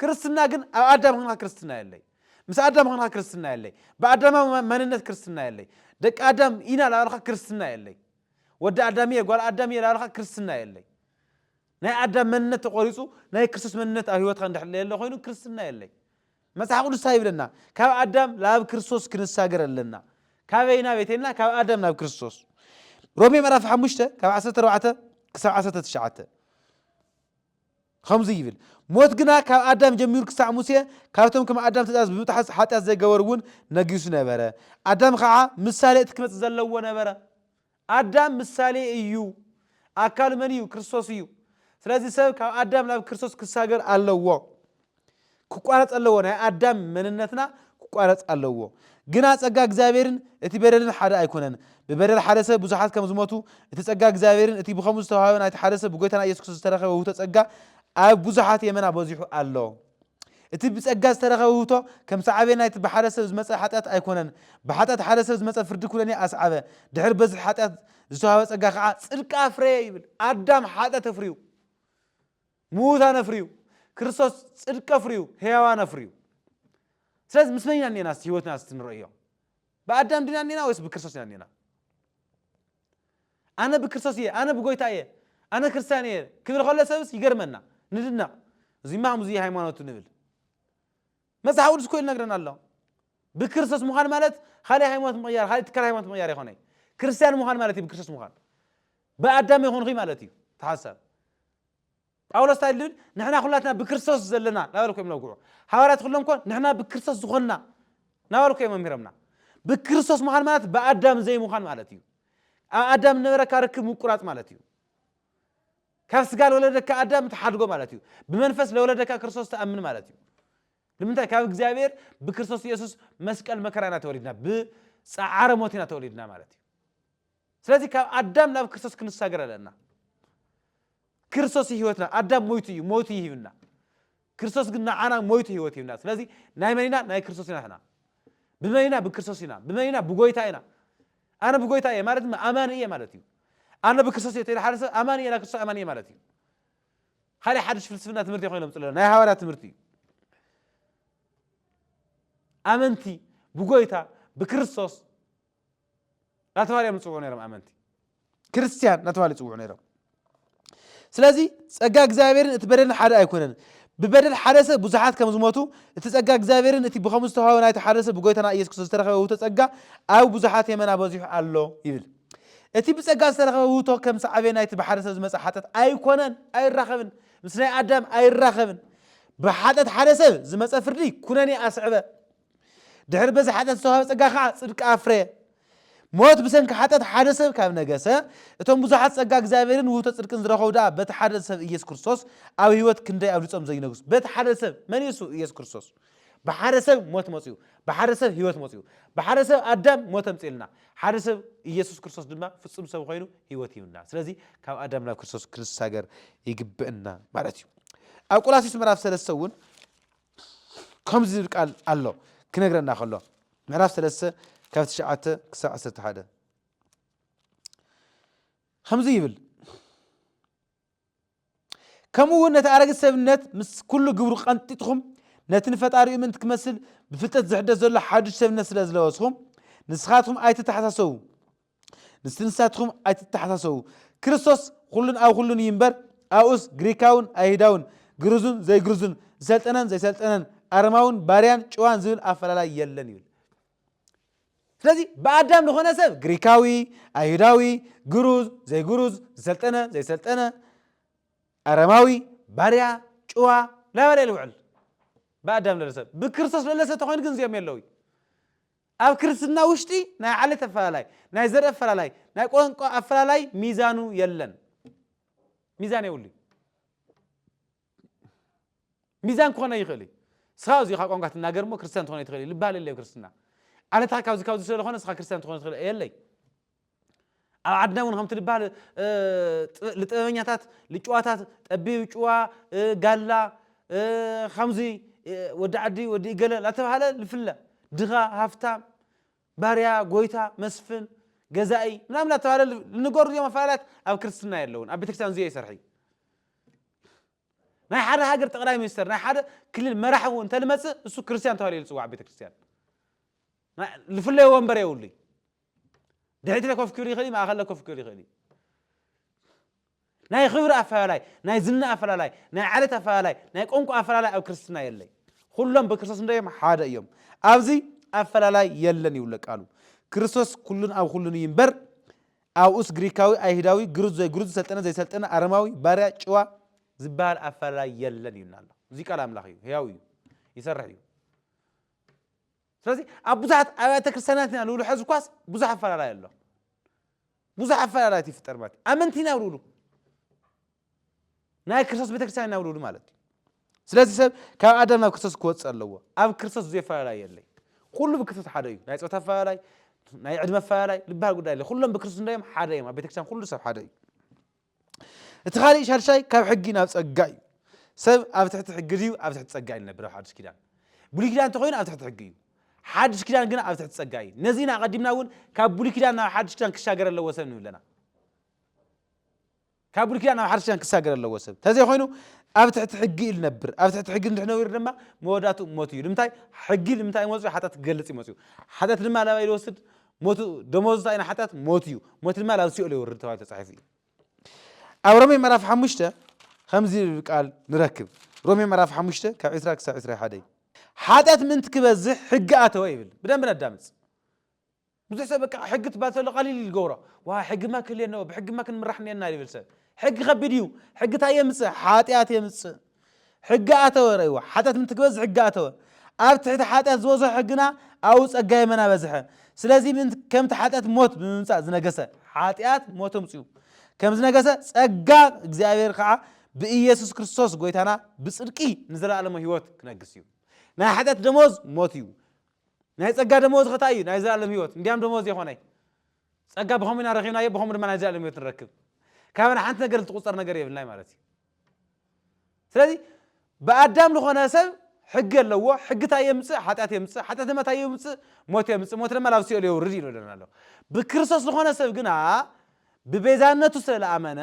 ክርስትና ግን ኣብ ኣዳም ክንካ ክርስትና የለይ ምስ ኣዳም ክንካ ክርስትና የለይ ብኣዳማዊ መንነት ክርስትና የለይ ደቂ ኣዳም ኢና ላበልካ ክርስትና የለይ ወዲ ኣዳም እየ ጓል ኣዳም እየ ላበልካ ክርስትና የለይ ናይ ኣዳም መንነት ተቆሪጹ ናይ ክርስቶስ መንነት ኣብ ህይወትካ እንድሕር ለየለ ኮይኑ ክርስትና የለይ። መጽሓፍ ቅዱስ ታይ ይብለና ካብ ኣዳም ላብ ክርስቶስ ክንሳገር ኣለና ካበይ ናበይ ተይልና ካብ ኣዳም ናብ ክርስቶስ ሮሜ ምዕራፍ ሓሙሽተ ካብ ዓሰርተ ኣርባዕተ ክሳብ ዓሰርተ ትሽዓተ ከምዚ ይብል ሞት ግና ካብ ኣዳም ጀሚሩ ክሳዕ ሙሴ ካብቶም ከም ኣዳም ትእዛዝ ብምጥሓስ ሓጢኣት ዘይገበሩ እውን ነጊሱ ነበረ ኣዳም ከዓ ምሳሌ እቲ ክመፅእ ዘለዎ ነበረ ኣዳም ምሳሌ እዩ። ኣካሉ መን እዩ? ክርስቶስ እዩ። ስለዚ ሰብ ካብ ኣዳም ናብ ክርስቶስ ክሳገር ኣለዎ። ክቋረጽ ኣለዎ። ናይ ኣዳም መንነትና ክቋረጽ ኣለዎ። ግና ጸጋ እግዚኣብሔርን እቲ በደልን ሓደ ኣይኮነን። ብበደል ሓደ ሰብ ብዙሓት ከም ዝሞቱ፣ እቲ ጸጋ እግዚኣብሔርን እቲ ብኸምኡ ዝተዋህበ ናይቲ ሓደ ሰብ ብጎይታና ኢየሱስ ክርስቶስ ዝተረኸበ ውህብቶ ጸጋ ኣብ ብዙሓት የመና በዚሑ ኣሎ። እቲ ብጸጋ ዝተረኸበ ውህብቶ ከም ሰዓቤን ናይቲ ብሓደ ሰብ ዝመጸ ሓጢኣት ኣይኮነን። ብሓጢኣት ሓደ ሰብ ዝመጸ ፍርዲ ኩነኔ ኣስዓበ። ድሕሪ በዝሒ ሓጢኣት ዝተዋህበ ጸጋ ከኣ ጽድቂ ኣፍረየ ይብል። ኣዳም ሓጢኣት ኣፍርዩ። ምዉታን ኣፍርዩ። ክርስቶስ ጽድቂ ኣፍርዩ። ህያዋን ኣፍርዩ። ስለዚ ምስ መን ኢና እኔና እስቲ ህይወትና እስቲ ንርእዮ። ብኣዳም ዲና እኔና ወይስ ብክርስቶስ ኢና እኔና? ኣነ ብክርስቶስ እየ ኣነ ብጎይታ እየ ኣነ ክርስትያን እየ ክብል ከሎ ሰብስ ይገርመና ንድነቕ እዚማ ኣምዙይ ሃይማኖቱ ንብል መጽሓፍ ቅዱስ እኮ ይነግረና ኣሎ ብክርስቶስ ምዃን ማለት ካልእ ሃይማኖት ምቕያር ካልእ ትካል ሃይማኖት ምቕያር ይኾነ ክርስትያን ምዃን ማለት እዩ ብክርስቶስ ምዃን ብኣዳም ይኾንኹ ማለት እዩ ተሓሳብ ጳውሎስ እንታይ ኢሉ ይብል? ንሕና ዅላትና ብክርስቶስ ዘለና እናበሉ እኮ እዮም ዝነግዑ። ሃዋርያት ዅሎም እኮ ንሕና ብክርስቶስ ዝዀንና እናበሉ እኮ እዮም መሚሮምና። ብክርስቶስ ምዃን ማለት ብኣዳም ዘይምዃን ማለት እዩ። ኣብ ኣዳም ዝነበረካ ርክብ ምቁራጽ ማለት እዩ። ካብ ስጋ ዝወለደካ ኣዳም ትሓድጎ ማለት እዩ። ብመንፈስ ዝወለደካ ክርስቶስ ትኣምን ማለት እዩ። ንምንታይ? ካብ እግዚኣብሔር ብክርስቶስ ኢየሱስ መስቀል መከራ ኢና ተወሊድና። ብጸዓረ ሞት ኢና ተወሊድና ማለት እዩ። ስለዚ ካብ ኣዳም ናብ ክርስቶስ ክንሳገር ኣለና። ክርስቶስ እዩ ህይወትና። ኣዳም ሞይቱ እዩ፣ ሞይቱ እዩ ሂብና። ክርስቶስ ግን ንዓና ሞይቱ ህይወት ሂብና። ስለዚ ናይ መን ኢና? ናይ ክርስቶስ ኢና ሕና። ብመን ኢና? ብክርስቶስ ኢና። ብመን ኢና? ብጎይታ ኢና። ኣነ ብጎይታ እየ ማለት ድማ ኣማኒ እየ ማለት እዩ። ኣነ ብክርስቶስ እየ ተይሉ ሓደ ሰብ ኣማኒ እየ ናይ ክርስቶስ ኣማኒ እየ ማለት እዩ። ካልእ ሓድሽ ፍልስፍና ትምህርቲ ኮይኖም ጽለና ናይ ሃዋርያ ትምህርቲ እዩ። ኣመንቲ ብጎይታ ብክርስቶስ ናተባህለ እዮም ዝፅውዑ ነይሮም ኣመንቲ ክርስትያን ናተባህለ ይፅውዑ ነይሮም ስለዚ ጸጋ እግዚኣብሔርን እቲ በደልን ሓደ ኣይኮነን ብበደል ሓደ ሰብ ብዙሓት ከም ዝሞቱ እቲ ጸጋ እግዚኣብሔርን እቲ ብከምኡ ዝተዋህበ ናይቲ ሓደ ሰብ ብጎይታና ኢየሱስ ክርስቶስ ዝተረኸበ ውህቶ ጸጋ ኣብ ብዙሓት የመና በዚሑ ኣሎ ይብል እቲ ብጸጋ ዝተረኸበ ውህቶ ከም ሳዕቤ ናይቲ ብሓደ ሰብ ዝመጽእ ሓጢኣት ኣይኮነን ኣይራኸብን ምስ ናይ ኣዳም ኣይራኸብን ብሓጢኣት ሓደ ሰብ ዝመጸ ፍርዲ ኩነኔ ኣስዕበ ድሕሪ በዚ ሓጢኣት ዝተዋህበ ጸጋ ከኣ ጽድቂ ኣፍረየ። ሞት ብሰንኪ ሓጢኣት ሓደ ሰብ ካብ ነገሰ፣ እቶም ብዙሓት ጸጋ እግዚኣብሔርን ውህብቶ ጽድቅን ዝረኸቡ ደኣ በቲ ሓደ ሰብ ኢየሱስ ክርስቶስ ኣብ ሕይወት ክንደይ ኣብልጾም ዘይነግሱ። በቲ ሓደ ሰብ፣ መን እዩ እሱ? ኢየሱስ ክርስቶስ። ብሓደ ሰብ ሞት መጺኡ፣ ብሓደ ሰብ ሕይወት መጺኡ። ብሓደ ሰብ ኣዳም ሞት ኣምጺኡልና፣ ሓደ ሰብ ኢየሱስ ክርስቶስ ድማ ፍጹም ሰብ ኮይኑ ሕይወት ሂቡና። ስለዚ ካብ ኣዳም ናብ ክርስቶስ ክንሳገር ይግብእና ማለት እዩ። ኣብ ቆላሲስ ምዕራፍ ሰለስተ እውን ከምዚ ዝብል ቃል ኣሎ ክነግረና ከሎ ምዕራፍ ሰለስተ ካብ ትሽዓተ ክሳብ ዓሰርተ ሓደ ከምዚ ይብል ከምኡ እውን ነቲ ኣረጊት ሰብነት ምስ ኩሉ ግብሩ ቀንጢጥኹም ነቲ ንፈጣሪኡ ምእንቲ ክመስል ብፍልጠት ዝሕደስ ዘሎ ሓዱሽ ሰብነት ስለ ዝለበስኹም ንስኻትኩም ኣይተተሓሳሰቡ ምስቲ ንሳትኹም ኣይትተሓሳሰቡ። ክርስቶስ ዅሉን ኣብ ዅሉን እዩ እምበር፣ ኣብኡስ ግሪካውን ኣይሁዳውን፣ ግርዙን ዘይግርዙን፣ ዝሰልጠነን ዘይሰልጠነን፣ ኣረማውን ባርያን ጭዋን ዝብል ኣፈላላይ የለን ይብል። ስለዚ ብኣዳም ዝኾነ ሰብ ግሪካዊ፣ ኣይሁዳዊ፣ ግሩዝ፣ ዘይግሩዝ፣ ዝሰልጠነ፣ ዘይሰልጠነ፣ ኣረማዊ፣ ባርያ፣ ጭዋ ላበለ ይልውዕል ብኣዳም ለለ ሰብ። ብክርስቶስ ለለ ሰብ ተኾይኑ ግን እዚኦም የለውይ። ኣብ ክርስትና ውሽጢ ናይ ዓሌት ኣፈላላይ፣ ናይ ዘርኢ ኣፈላላይ፣ ናይ ቋንቋ ኣፈላላይ ሚዛኑ የለን። ሚዛን የብሉ እዩ። ሚዛን ክኾነ ይኽእል እዩ። ስኻ እዚኻ ቋንቋ ትናገር እሞ ክርስትያን ትኾነ ትኽእል እዩ ልባሃል የለይ ክርስትና። ዓለትኻ ካብዚ ካብዚ ስለዝኾነ ስኻ ክርስትያን ትኾነ ትኽእል የለይ። ኣብ ዓድና እውን ከምቲ ልባል ልጥበበኛታት ልጭዋታት ጠቢብ ጭዋ ጋላ ከምዚ ወዲ ዓዲ ወዲ እገለ ላተባሃለ ልፍለ ድኻ ሃፍታም ባርያ ጎይታ መስፍን ገዛኢ ምናምን ላተባሃለ ልንገሩ ዚኦም ኣፈላላት ኣብ ክርስትና የለውን ኣብ ቤተክርስትያን ዚኦ ይሰርሒ ናይ ሓደ ሃገር ጠቅላይ ሚኒስተር ናይ ሓደ ክልል መራሒ እውን እንተልመፅእ እሱ ክርስትያን ተባሂሉ ዝፅዋዕ ቤተ ክርስትያን ዝፍለዮ ወንበር የብሉይ ድሕሪት ለከፍክር ይኽእል እዩ፣ ማእኸል ለከፍክር ይኽእል እዩ። ናይ ክብሪ ኣፈላላይ፣ ናይ ዝና ኣፈላላይ፣ ናይ ዓሌት ኣፈላላይ፣ ናይ ቋንቋ ኣፈላላይ ኣብ ክርስትና የለይ። ኹሎም ብክርስቶስ እንታይ እዮም? ሓደ እዮም። ኣብዚ ኣፈላላይ የለን ይብለ ቃሉ። ክርስቶስ ኩሉን ኣብ ኩሉን እዩ እምበር ኣብኡስ ግሪካዊ፣ ኣይሁዳዊ፣ ግሩዝ፣ ዘይግሩዝ፣ ዝሰልጠነ፣ ዘይሰልጠነ፣ ኣረማዊ፣ ባርያ፣ ጭዋ ዝበሃል ኣፈላላይ የለን ይብልና ኣሎ። እዚ ቃል ኣምላኽ እዩ፣ ሕያው እዩ፣ ይሰርሕ እዩ። ስለዚ ኣብ ብዙሓት ኣብያተ ክርስቲያናት ኢና ንብሉ ሕዚ እኳስ ብዙሕ ኣፈላላይ ኣሎ ብዙሕ ኣፈላላይት ይፍጠር ማለት እዩ ኣመንቲ ኢና ብልብሉ ናይ ክርስቶስ ቤተ ክርስቲያን ኢና ብልብሉ ማለት እዩ ስለዚ ሰብ ካብ ኣዳም ናብ ክርስቶስ ክወፅእ ኣለዎ ኣብ ክርስቶስ ብዙ ኣፈላላይ የለይ ኩሉ ብክርስቶስ ሓደ እዩ ናይ ፆታ ኣፈላላይ ናይ ዕድመ ኣፈላላይ ዝበሃል ጉዳይ የለ ኩሎም ብክርስቶስ እንዳዮም ሓደ እዮም ኣብ ቤተክርስትያን ኩሉ ሰብ ሓደ እዩ እቲ ካልእ ሻድሻይ ካብ ሕጊ ናብ ጸጋ እዩ። ሰብ ኣብ ትሕቲ ሕጊ ድዩ ኣብ ትሕቲ ጸጋ እዩ ንነብር ኣብ ሓድሽ ኪዳን? ብሉይ ኪዳን እንተኾይኑ ኣብ ትሕቲ ሕጊ እዩ። ሓድሽ ኪዳን ግና ኣብ ትሕቲ ጸጋ እዩ። ነዚ ኢና ኣቐዲምና እውን ካብ ብሉይ ኪዳን ናብ ሓድሽ ኪዳን ክሻገር ኣለዎ ሰብ ንብል ኣለና። ካብ ብሉይ ኪዳን ናብ ሓድሽ ኪዳን ክሳገር ኣለዎ ሰብ ተዘይኮይኑ ኣብ ትሕቲ ሕጊ እዩ ልነብር ኣብ ትሕቲ ሕጊ እንድሕነብር ድማ መወዳቱ ሞት እዩ ንምንታይ ሕጊ ንምንታይ መፅኡ ሓጢኣት ክገልፅ እዩ መፅኡ ሓጢኣት ድማ ላባይ ዝወስድ ሞት ደሞዝ እንታይ ናይ ሓጢኣት ሞት እዩ ሞት ድማ ናብ ሲኦል የውርድ ተባሂሉ ተጻሒፉ እዩ ኣብ ሮሜ ምዕራፍ ሓሙሽተ ከምዚ ዝብል ቃል ንረክብ ሮሜ ምዕራፍ ሓሙሽተ ካብ ዕስራ ክሳብ ዕስራ ሓደ እዩ ሓጢኣት ምእንቲ ክበዝሕ ሕጊ ኣተወ ይብል ብደንብ ነዳምፅ ብዙሕ ሰብ በቃ ሕጊ ትባል ተሎ ቀሊል እዩ ዝገብሮ ዋ ሕጊማ ክህልየና ብሕጊማ ክንምራሕ እኒአና ይብል ሰብ ሕጊ ከቢድ እዩ ሕጊ እንታይ የምፅእ ሓጢኣት የምፅእ ሕጊ ኣተወ ረይዋ ሓጢኣት ምንትግበዝ ሕጊ ኣተወ ኣብ ትሕቲ ሓጢኣት ዝበዝሖ ሕግና ኣብኡ ጸጋ የመና በዝሐ ስለዚ ምንት ከምቲ ሓጢኣት ሞት ብምምጻእ ዝነገሰ ሓጢኣት ሞት ኣምጽኡ ከም ዝነገሰ ጸጋ እግዚኣብሔር ከዓ ብኢየሱስ ክርስቶስ ጎይታና ብጽድቂ ንዘለኣለሞ ህይወት ክነግስ እዩ ናይ ሓጢኣት ደሞዝ ሞት እዩ ናይ ጸጋ ደሞዝ ኸታ እዩ ናይ ዘለኣለም ህይወት እንዲያም ደሞዝ የኾነይ ጸጋ ብኸምኡ ኢና ረኺብናዮ ብኸምኡ ድማ ናይ ዘለኣለም ህይወት ንረክብ ካብና ሓንቲ ነገር ዝትቁጸር ነገር የብልናይ ማለት እዩ ስለዚ ብኣዳም ልኾነ ሰብ ሕጊ ኣለዎ። ሕጊ እንታይ የምፅእ? ሓጢኣት የምፅእ። ሓጢኣት ድማ እንታይ የምፅእ? ሞት የምፅእ። ሞት ድማ ናብ ሲኦል የውርድ እዩ ይብለና ኣሎ። ብክርስቶስ ልኾነ ሰብ ግና ብቤዛነቱ ስለ ልኣመነ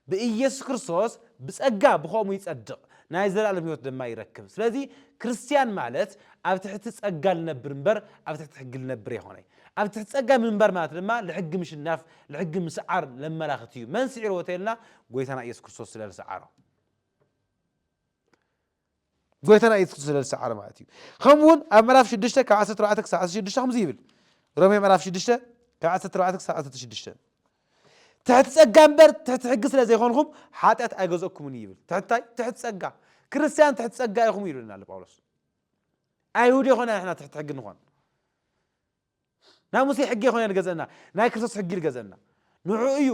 ብኢየሱስ ክርስቶስ ብጸጋ ብኸምኡ ይጸድቕ ናይ ዘላለም ህይወት ድማ ይረክብ። ስለዚ ክርስትያን ማለት ኣብ ትሕቲ ጸጋ ልነብር እምበር ኣብ ትሕቲ ሕጊ ልነብር ኣይኮነይ። ኣብ ትሕቲ ጸጋ ምንባር ማለት ድማ ልሕጊ ምሽናፍ ልሕጊ ምስዓር ለመላኽት እዩ መን ስዒርዎ ተልና ጎይታና ኢየሱስ ክርስቶስ ስለ ዝሰዓሮ ጎይታና ኢየሱስ ክርስቶስ ስለ ዝሰዓሮ ማለት እዩ ከምኡውን ኣብ ምዕራፍ 6 ካብ 14 ክሳብ 16 ከምዚ ይብል ሮሜ ምዕራፍ 6 ካብ 14 ክሳብ 16 ትሕቲ ጸጋ እምበር ትሕቲ ሕጊ ስለ ዘይኮንኩም ሓጢኣት ኣይገዘእኩምን ይብል ትሕታይ ትሕቲ ጸጋ ክርስትያን ትሕቲ ጸጋ ኢኹም ይብለና ኣሎ ጳውሎስ ኣይሁድ የኾና ንሕና ትሕቲ ሕጊ ንኾን ናይ ሙሴ ሕጊ የኾነ ንገዘእና ናይ ክርስቶስ ሕጊ ንገዘእና ንዑ እዩ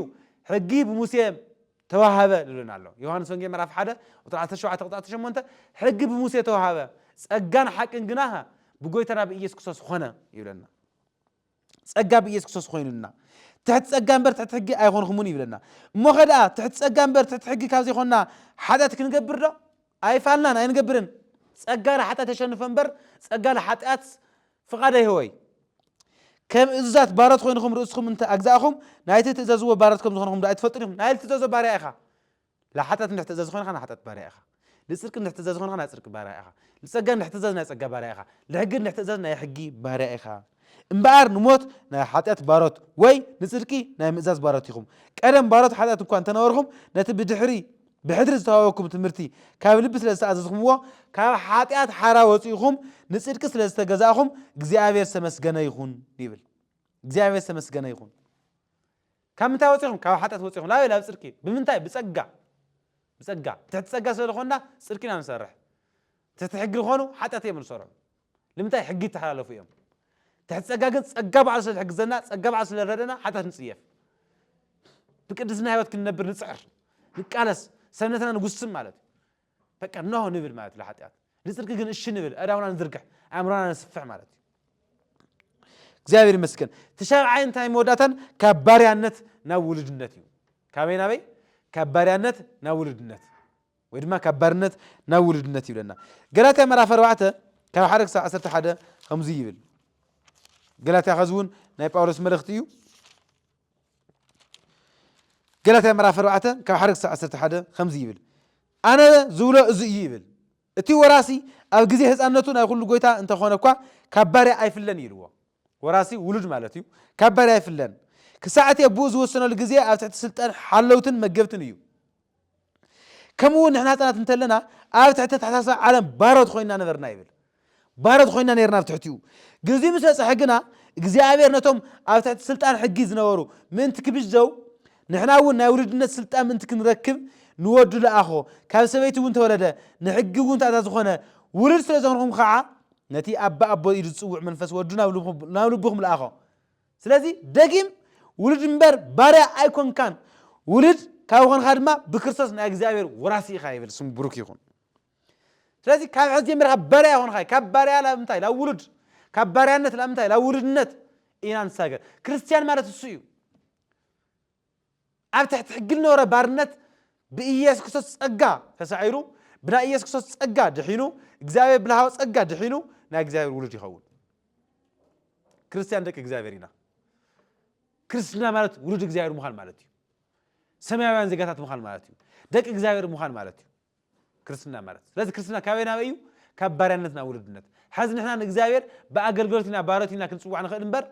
ሕጊ ብሙሴ ተዋሃበ ዝብለና ኣሎ ዮሃንስ ወንጌ ምዕራፍ ሓደ ቁጥሪ 17 ቁጥሪ 18 ሕጊ ብሙሴ ተዋሃበ ጸጋን ሓቅን ግና ብጎይታና ብኢየሱስ ክርስቶስ ኾነ ይብለና ጸጋ ብኢየሱስ ክርስቶስ ኾይኑልና። ትሕቲ ጸጋ እምበር ትሕቲ ሕጊ ኣይኾንኹሙን ይብለና። እሞኸ ደኣ ትሕቲ ጸጋ እምበር ትሕቲ ሕጊ ካብ ዘይኮንና ሓጢኣት ክንገብርዶ? ኣይፋልናን፣ ኣይንገብርን። ጸጋ ንሓጢኣት የሸንፎ እምበር ጸጋ ንሓጢኣት ፍቓድ ኣይህቦይ። ከም እዙዛት ባሮት ኾይንኹም ርእስኹም እንተ ኣግዛእኹም፣ ናይቲ እትእዘዝዎ ባሮት ከም ዝኾንኹም ዶ ኣይትፈልጡን ኢኹም? ናይ ልትእዘዞ ባርያ ኢኻ። ለሓጥያት እንድሕር ትእዘዝ ኾይንኻ ናይ ሓጥያት ባርያ ኢኻ፣ ልጽድቂ እንድሕር ትእዘዝ ኾይንኻ ናይ ጽድቂ ባርያ ኢኻ፣ ልጸጋ እንድሕር ትእዘዝ ናይ ጸጋ ባርያ ኢኻ፣ ልሕጊ እንድሕር ትእዘዝ ናይ ሕጊ ባርያ ኢኻ። እምበኣር ንሞት ናይ ሓጥያት ባሮት ወይ ንጽድቂ ናይ ምእዛዝ ባሮት ኢኹም። ቀደም ባሮት ሓጥያት እኳ እንተ ነበርኹም ነቲ ብድሕሪ ብሕድሪ ዝተዋህበኩም ትምህርቲ ካብ ልቢ ስለ ዝተኣዘዝኩምዎ ካብ ሓጥያት ሓራ ወጺእኹም ንጽድቂ ስለ ዝተገዛእኹም እግዚኣብሔር ዝተመስገነ ይኹን ይብል። እግዚኣብሔር ዝተመስገነ ይኹን። ካብ ምንታይ ወጺኹም ካብ ሓጢኣት ወጺኹም ላበይ ላብ ጽድቂ ብምንታይ ብጸጋ ብጸጋ ትሕቲ ጸጋ ስለ ዝኾንና ጽድቂ ኢና ንሰርሕ ትሕቲ ሕጊ ዝኾኑ ሓጢኣት እዮም ንሰርዑ ልምንታይ ሕጊ ይተሓላለፉ እዮም ትሕቲ ጸጋ ግን ጸጋ በዓሉ ስለ ዝሕግዘና ጸጋ በዓሉ ስለ ዝረደና ሓጢኣት ንጽየፍ ብቅድስና ህይወት ክንነብር ንጽዕር ንቃለስ ሰብነትና ንጉስም ማለት እዩ በቃ ኖህ ንብል ማለት እዩ ለሓጢኣት ንፅድቂ ግን እሺ ንብል ኣእዳውና ንዝርግሕ ኣእምሮና ነስፍሕ ማለት እዩ እግዚኣብሔር ይመስገን ተሻብዓይ እንታይ መወዳእታን ካብ ባርያነት ናብ ውሉድነት እዩ ካበይ ናበይ ካብ ባርያነት ናብ ውሉድነት ወይ ድማ ካብ ባርነት ናብ ውሉድነት ይብለና ገላትያ ምዕራፍ ኣርባዕተ ካብ ሓደ ክሳብ ዓሰርተ ሓደ ከምዙይ ይብል ገላትያ ከዚ እውን ናይ ጳውሎስ መልእኽቲ እዩ ገላትያ ምዕራፍ ኣርባዕተ ካብ ሓደ ክሳዕ ዓሰርተ ሓደ ከምዚ ይብል፣ ኣነ ዝብሎ እዚ እዩ ይብል፣ እቲ ወራሲ ኣብ ግዜ ህጻንነቱ ናይ ኩሉ ጎይታ እንተ ኾነ እኳ፣ ካብ ባርያ ኣይፍለን እዩ ኢልዎ። ወራሲ፣ ውሉድ ማለት እዩ፣ ካብ ባርያ ኣይፍለን። ክሳዕ እቲ ኣቦኡ ዝወሰነሉ ግዜ ኣብ ትሕቲ ስልጣን ሓለውትን መገብትን እዩ። ከምኡ እውን ንሕና ህፃናት እንተለና ኣብ ትሕቲ ኣተሓሳስባ ዓለም ባሮት ኮይና ነበርና ይብል ባሮት ኮይና ነርና ኣብ ትሕቲኡ ግዜኡ ምስ በፅሐ ግና እግዚኣብሔር ነቶም ኣብ ትሕቲ ስልጣን ሕጊ ዝነበሩ ምእንቲ ክብዘው ንሕና እውን ናይ ውሉድነት ስልጣን ምእንቲ ክንረክብ ንወዱ ለኣኾ ካብ ሰበይቲ እውን ተወለደ ንሕጊ እውን ተኣዛ ዝኾነ ውሉድ ስለ ዝኾንኩም ከዓ ነቲ ኣባ ኣቦ ኢሉ ዝፅውዕ መንፈስ ወዱ ናብ ልብኹም ለኣኾ ስለዚ ደጊም ውሉድ እምበር ባርያ ኣይኮንካን፣ ውሉድ ካብ ኾንኻ ድማ ብክርስቶስ ናይ እግዚኣብሔር ወራሲ ኢኻ ይብል፣ ስሙ ብሩክ ይኹን። ስለዚ ካብ ሕዚ ጀሚርካ ባርያ ኣይኮንኻ፣ ካብ ባርያ ላብ እንታይ ላብ ውሉድ፣ ካብ ባርያነት ላብ እንታይ ላብ ውሉድነት ኢና ንሳገር። ክርስትያን ማለት እሱ እዩ። ኣብ ትሕቲ ሕጊ ዝነበረ ባርነት ብኢየሱስ ክርስቶስ ጸጋ ተሳዒሩ ብናይ ኢየሱስ ክርስቶስ ጸጋ ድሒኑ እግዚኣብሔር ብልሃዊ ጸጋ ድሒኑ ናይ እግዚኣብሔር ውሉድ ይኸውን ክርስትያን ደቂ እግዚኣብሔር ኢና ክርስትና ማለት ውሉድ እግዚኣብሔር ምዃን ማለት እዩ ሰማያውያን ዜጋታት ምዃን ማለት እዩ ደቂ እግዚኣብሔር ምዃን ማለት እዩ ክርስትና ማለት ስለዚ ክርስትና ካበይ ናበይ እዩ ካብ ባርያነት ናብ ውልድነት ሐዚ ንሕና ንእግዚኣብሔር ብኣገልገሎት ኢና ባሮት ኢና ክንፅዋዕ ንኽእል እምበር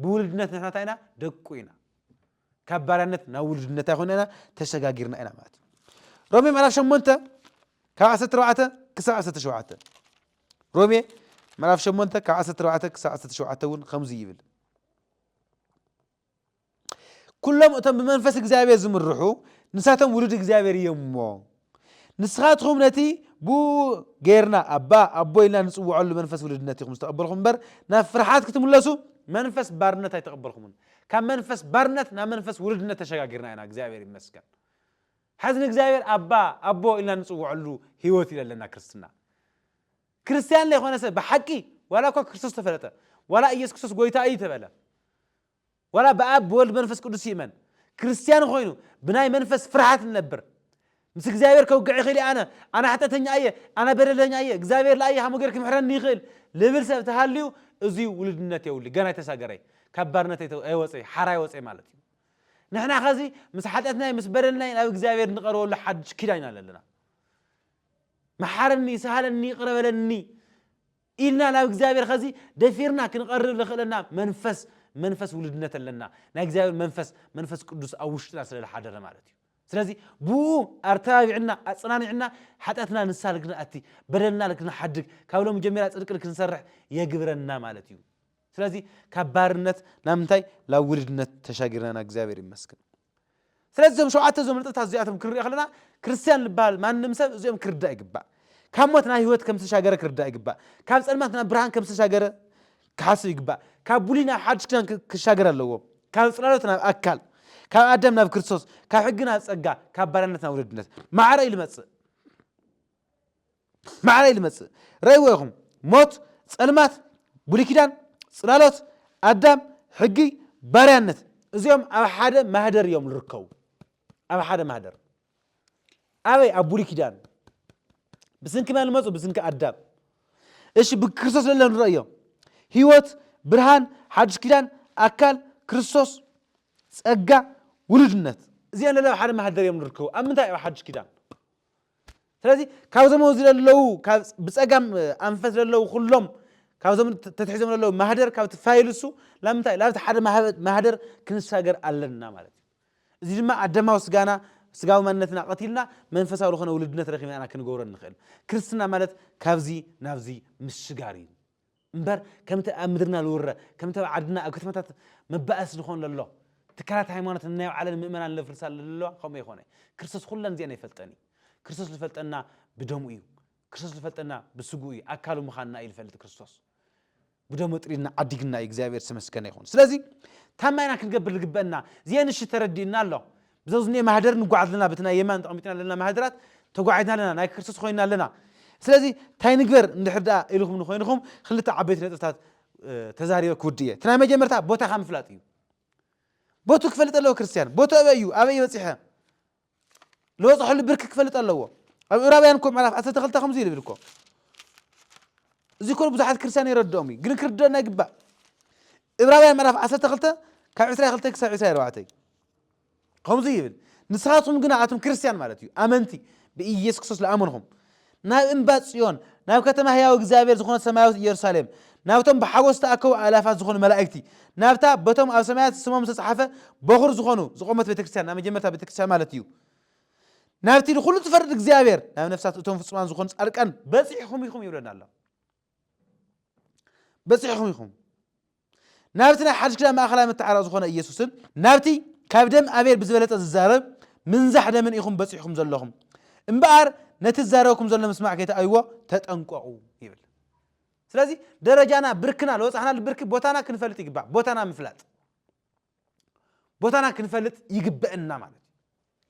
ብውልድነት ንሕና እንታይ ኢና ደቁ ኢና ካብ ባርያነት ናብ ውልድነት ኣይኮነ ኢና ተሸጋጊርና ኢና ማለት እዩ ሮሜ ምዕራፍ ሸሞንተ ካብ ዓሰርተ ኣርባዕተ ክሳብ ዓሰርተ ሸውዓተ ሮሜ ምዕራፍ ሸሞንተ ካብ ዓሰርተ ኣርባዕተ ክሳብ ዓሰርተ ሸውዓተ እውን ከምዚ ይብል ኵሎም እቶም ብመንፈስ እግዚኣብሔር ዝምርሑ ንሳቶም ውሉድ እግዚኣብሔር እዮም እሞ፣ ንስኻትኹም ነቲ ብእኡ ገይርና ኣባ፣ ኣቦ ኢልና ንጽውዐሉ መንፈስ ውሉድነት ኢኹም ዝተቐበልኩም እምበር፣ ናብ ፍርሓት ክትምለሱ መንፈስ ባርነት ኣይተቐበልኩምን። ካብ መንፈስ ባርነት ናብ መንፈስ ውሉድነት ተሸጋጊርና ኢና፣ እግዚኣብሔር ይመስገን። ሐዚ ንእግዚኣብሔር ኣባ፣ ኣቦ ኢልና ንጽውዐሉ ሕይወት እዩ ለለና ክርስትና። ክርስትያን ለይኮነ ሰብ ብሓቂ ዋላ እኳ ክርስቶስ ተፈለጠ ዋላ ኢየሱስ ክርስቶስ ጎይታ እዩ ተበለ ዋላ ብኣብ ብወልድ ብመንፈስ ቅዱስ ይእመን ክርስትያን ኮይኑ ብናይ መንፈስ ፍርሃት ንነብር ምስ እግዚኣብሔር ከውግዕ ይኽእል እየ ኣነ ኣነ ሓጢኣተኛ እየ ኣነ በደለኛ እየ እግዚኣብሔር ለኣየ ሃሞ ጌር ክምሕረኒ ይኽእል ልብል ሰብ ተሃልዩ እዙይ ውሉድነት የውሊ ገና ኣይተሳገረይ ካብ ባርነት ኣይወፀይ ሓራ ኣይወፀይ ማለት እዩ ንሕና ከዚ ምስ ሓጢኣትናይ ምስ በደልናይ ናብ እግዚኣብሔር ንቐርበሉ ሓድሽ ኪዳን ኢና ኣለና መሓረኒ ሰሃለኒ ይቅረ በለኒ ኢልና ናብ እግዚኣብሔር ከዚ ደፊርና ክንቐርብ ዘኽእለና መንፈስ መንፈስ ውልድነት ኣለና ናይ እግዚኣብሔር መንፈስ መንፈስ ቅዱስ ኣብ ውሽጥና ስለ ዝሓደረ ማለት እዩ ስለዚ ብኡ ኣርተባቢዕና ኣጸናኒዕና ሓጢኣትና ንሳ ልክንኣቲ በደልና ልክንሓድግ ካብ ሎም ጀሚራ ጽድቂ ልክንሰርሕ የግብረና ማለት እዩ ስለዚ ካብ ባርነት ናብ ምንታይ ናብ ውልድነት ተሻጊርናና እግዚኣብሔር ይመስግን ስለዚ እዞም ሸውዓተ እዞም ንጥብታት እዚኣቶም ክንሪኦ ከለና ክርስትያን ዝበሃል ማንም ሰብ እዚኦም ክርዳእ ይግባእ። ካብ ሞት ናብ ህይወት ከም ዝተሻገረ ክርዳእ ይግባእ። ካብ ጸልማት ናብ ብርሃን ከም ዝተሻገረ ክሓስብ ይግባእ። ካብ ብሉይ ናብ ሓድሽ ኪዳን ክሻገር ኣለዎ። ካብ ጽላሎት ናብ ኣካል፣ ካብ ኣዳም ናብ ክርስቶስ፣ ካብ ሕጊ ናብ ጸጋ፣ ካብ ባርያነት ናብ ወለድነት ማዕረ ኢሉ ይመጽእ። ማዕረይ ልመጽእ ረእይዎ ኢኹም ሞት ጸልማት ብሉይ ኪዳን ጽላሎት ኣዳም ሕጊ ባርያነት እዚኦም ኣብ ሓደ ማህደር እዮም ዝርከቡ ኣብ ሓደ ማህደር ኣበይ ኣብ ብሉይ ኪዳን ብስንኪ መን ልመጹ ብስንኪ ኣዳም እሺ ብክርስቶስ ለለ ንረእዮ ህይወት ብርሃን ሓድሽ ኪዳን ኣካል ክርስቶስ ጸጋ ውሉድነት እዚኦም ለለ ኣብ ሓደ ማህደር እዮም ዝርከቡ ኣብ ምንታይ ኣብ ሓድሽ ኪዳን ስለዚ ካብዞም ኣብዚ ዘለዉ ብፀጋም ኣንፈት ዘለዉ ኩሎም ካብዞም ተትሒዞም ዘለዉ ማህደር ካብቲ ፋይል እሱ ላምንታይ ላብቲ ሓደ ማህደር ክንሳገር ኣለና ማለት እዩ እዚ ድማ ኣደማዊ ስጋና ስጋዊ ማንነትና ቀቲልና መንፈሳዊ ዝኾነ ውልድነት ረኺብና ኢና ክንገብሮ ንኽእል ክርስትና ማለት ካብዚ ናብዚ ምስጋር እዩ እምበር ከምቲ ኣብ ምድርና ልውረ ከምቲ ኣብ ዓድና ኣብ ከተማታት መባእስ ልኾን ለሎ ትካላት ሃይማኖት ንናይ ባዕለን ምእመናን ለፍርሳ ለለዋ ከምኡ ኣይኮነ ክርስቶስ ኹለን እዚኤን ኣይፈልጠን እዩ ክርስቶስ ልፈልጠና ብደሙ እዩ ክርስቶስ ልፈልጠና ብስግኡ እዩ ኣካሉ ምኻንና እዩ ልፈልጥ ክርስቶስ ብደሙ ኣጥሪድና ዓዲግና እዩ እግዚኣብሔር ዝተመስገነ ይኹን ስለዚ ታማይና ክንገብር ልግበእና ዜንሽ ተረዲእና ኣሎ ብዘው ዝኒኤ ማህደር ንጓዓዝ ኣለና በቲ ናይ የማን ተቀሚጥና ዘለና ማህደራት ተጓዒዝና ኣለና ናይ ክርስቶስ ኮይንና ኣለና ስለዚ እንታይ ንግበር እንድሕር ደኣ ኢልኹምኒ ኮይንኹም ክልተ ዓበይቲ ነጥብታት ተዛሪበ ክውድእ እየ እቲ ናይ መጀመርታ ቦታኻ ምፍላጥ እዩ ቦቱ ክፈልጥ ኣለዎ ክርስትያን ቦቱ ኣበይ እዩ ኣበይ በፂሐ ዝበፅሐሉ ብርኪ ክፈልጥ ኣለዎ ኣብ ዕብራውያን እኮ ምዕራፍ ዓሰርተ ክልተ ከምዚ ይብል እኮ እዚ ኮ ብዙሓት ክርስትያን የረድኦም እዩ ግን ክርድኦና ይግባእ ዕብራውያን ምዕራፍ ዓሰርተ ክልተ ካብ ዕስራ ክልተ ክሳብ ዕስራ ኣርባዕተ እዩ ከምዙይ ይብል ንስኻትኩም ግና ኣቱም ክርስትያን ማለት እዩ ኣመንቲ ብኢየሱስ ክርስቶስ ዝኣመንኹም ናብ እምባ ጽዮን ናብ ከተማ ህያው እግዚኣብሔር ዝኾነት ሰማያዊት ኢየሩሳሌም ናብቶም ብሓጎስ ዝተኣከቡ ኣላፋት ዝኾኑ መላእክቲ ናብታ በቶም ኣብ ሰማያት ስሞም ዝተፅሓፈ በኹር ዝኾኑ ዝቆመት ቤተክርስትያን ናብ መጀመርታ ቤተክርስትያን ማለት እዩ ናብቲ ንኩሉ ትፈርድ እግዚኣብሔር ናብ ነፍሳት እቶም ፍፁማን ዝኾኑ ፃድቃን በፂሕኹም ኢኹም ይብለና ኣሎ በጺሕኹም ኢኹም። ናብቲ ናይ ሓድሽ ኪዳን ማእከላይ መተዓረቂ ዝኾነ ኢየሱስን ናብቲ ካብ ደም ኣቤል ብዝበለጸ ዝዛረብ ምንዛሕ ደምን ኢኹም በጺሕኩም ዘለኹም። እምበኣር ነቲ ዝዛረበኩም ዘሎ ምስማዕ ከይተኣይዎ ተጠንቀቑ ይብል። ስለዚ ደረጃና ብርክና ዝበፅሕናሉ ብርኪ ቦታና ክንፈልጥ ይግባእ ቦታና ምፍላጥ ቦታና ክንፈልጥ ይግበእና ማለት እዩ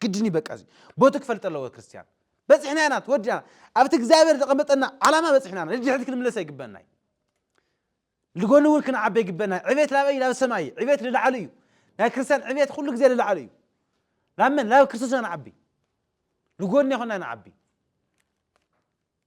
ግድን እዩ በቃ እዚ ቦቱ ክፈልጥ ኣለዎ ክርስትያን በፂሕና ኢና ተወዲና ኣብቲ እግዚኣብሔር ዘቐመጠና ዓላማ በፂሕና ኢና ንድሕሪት ክንምለስ ኣይግበእና እዩ ንጎኒ እውን ክንዓበ ይግበና ዕቤት ላበይ ናብ ሰማይ እዩ ዕቤት ንላዕሊ እዩ ናይ ክርስትያን ዕቤት ኩሉ ግዜ ንላዕሊ እዩ ናብ መን ናብ ክርስቶስ ኢና ንዓቢ ንጎኒ ይኮና ንዓቢ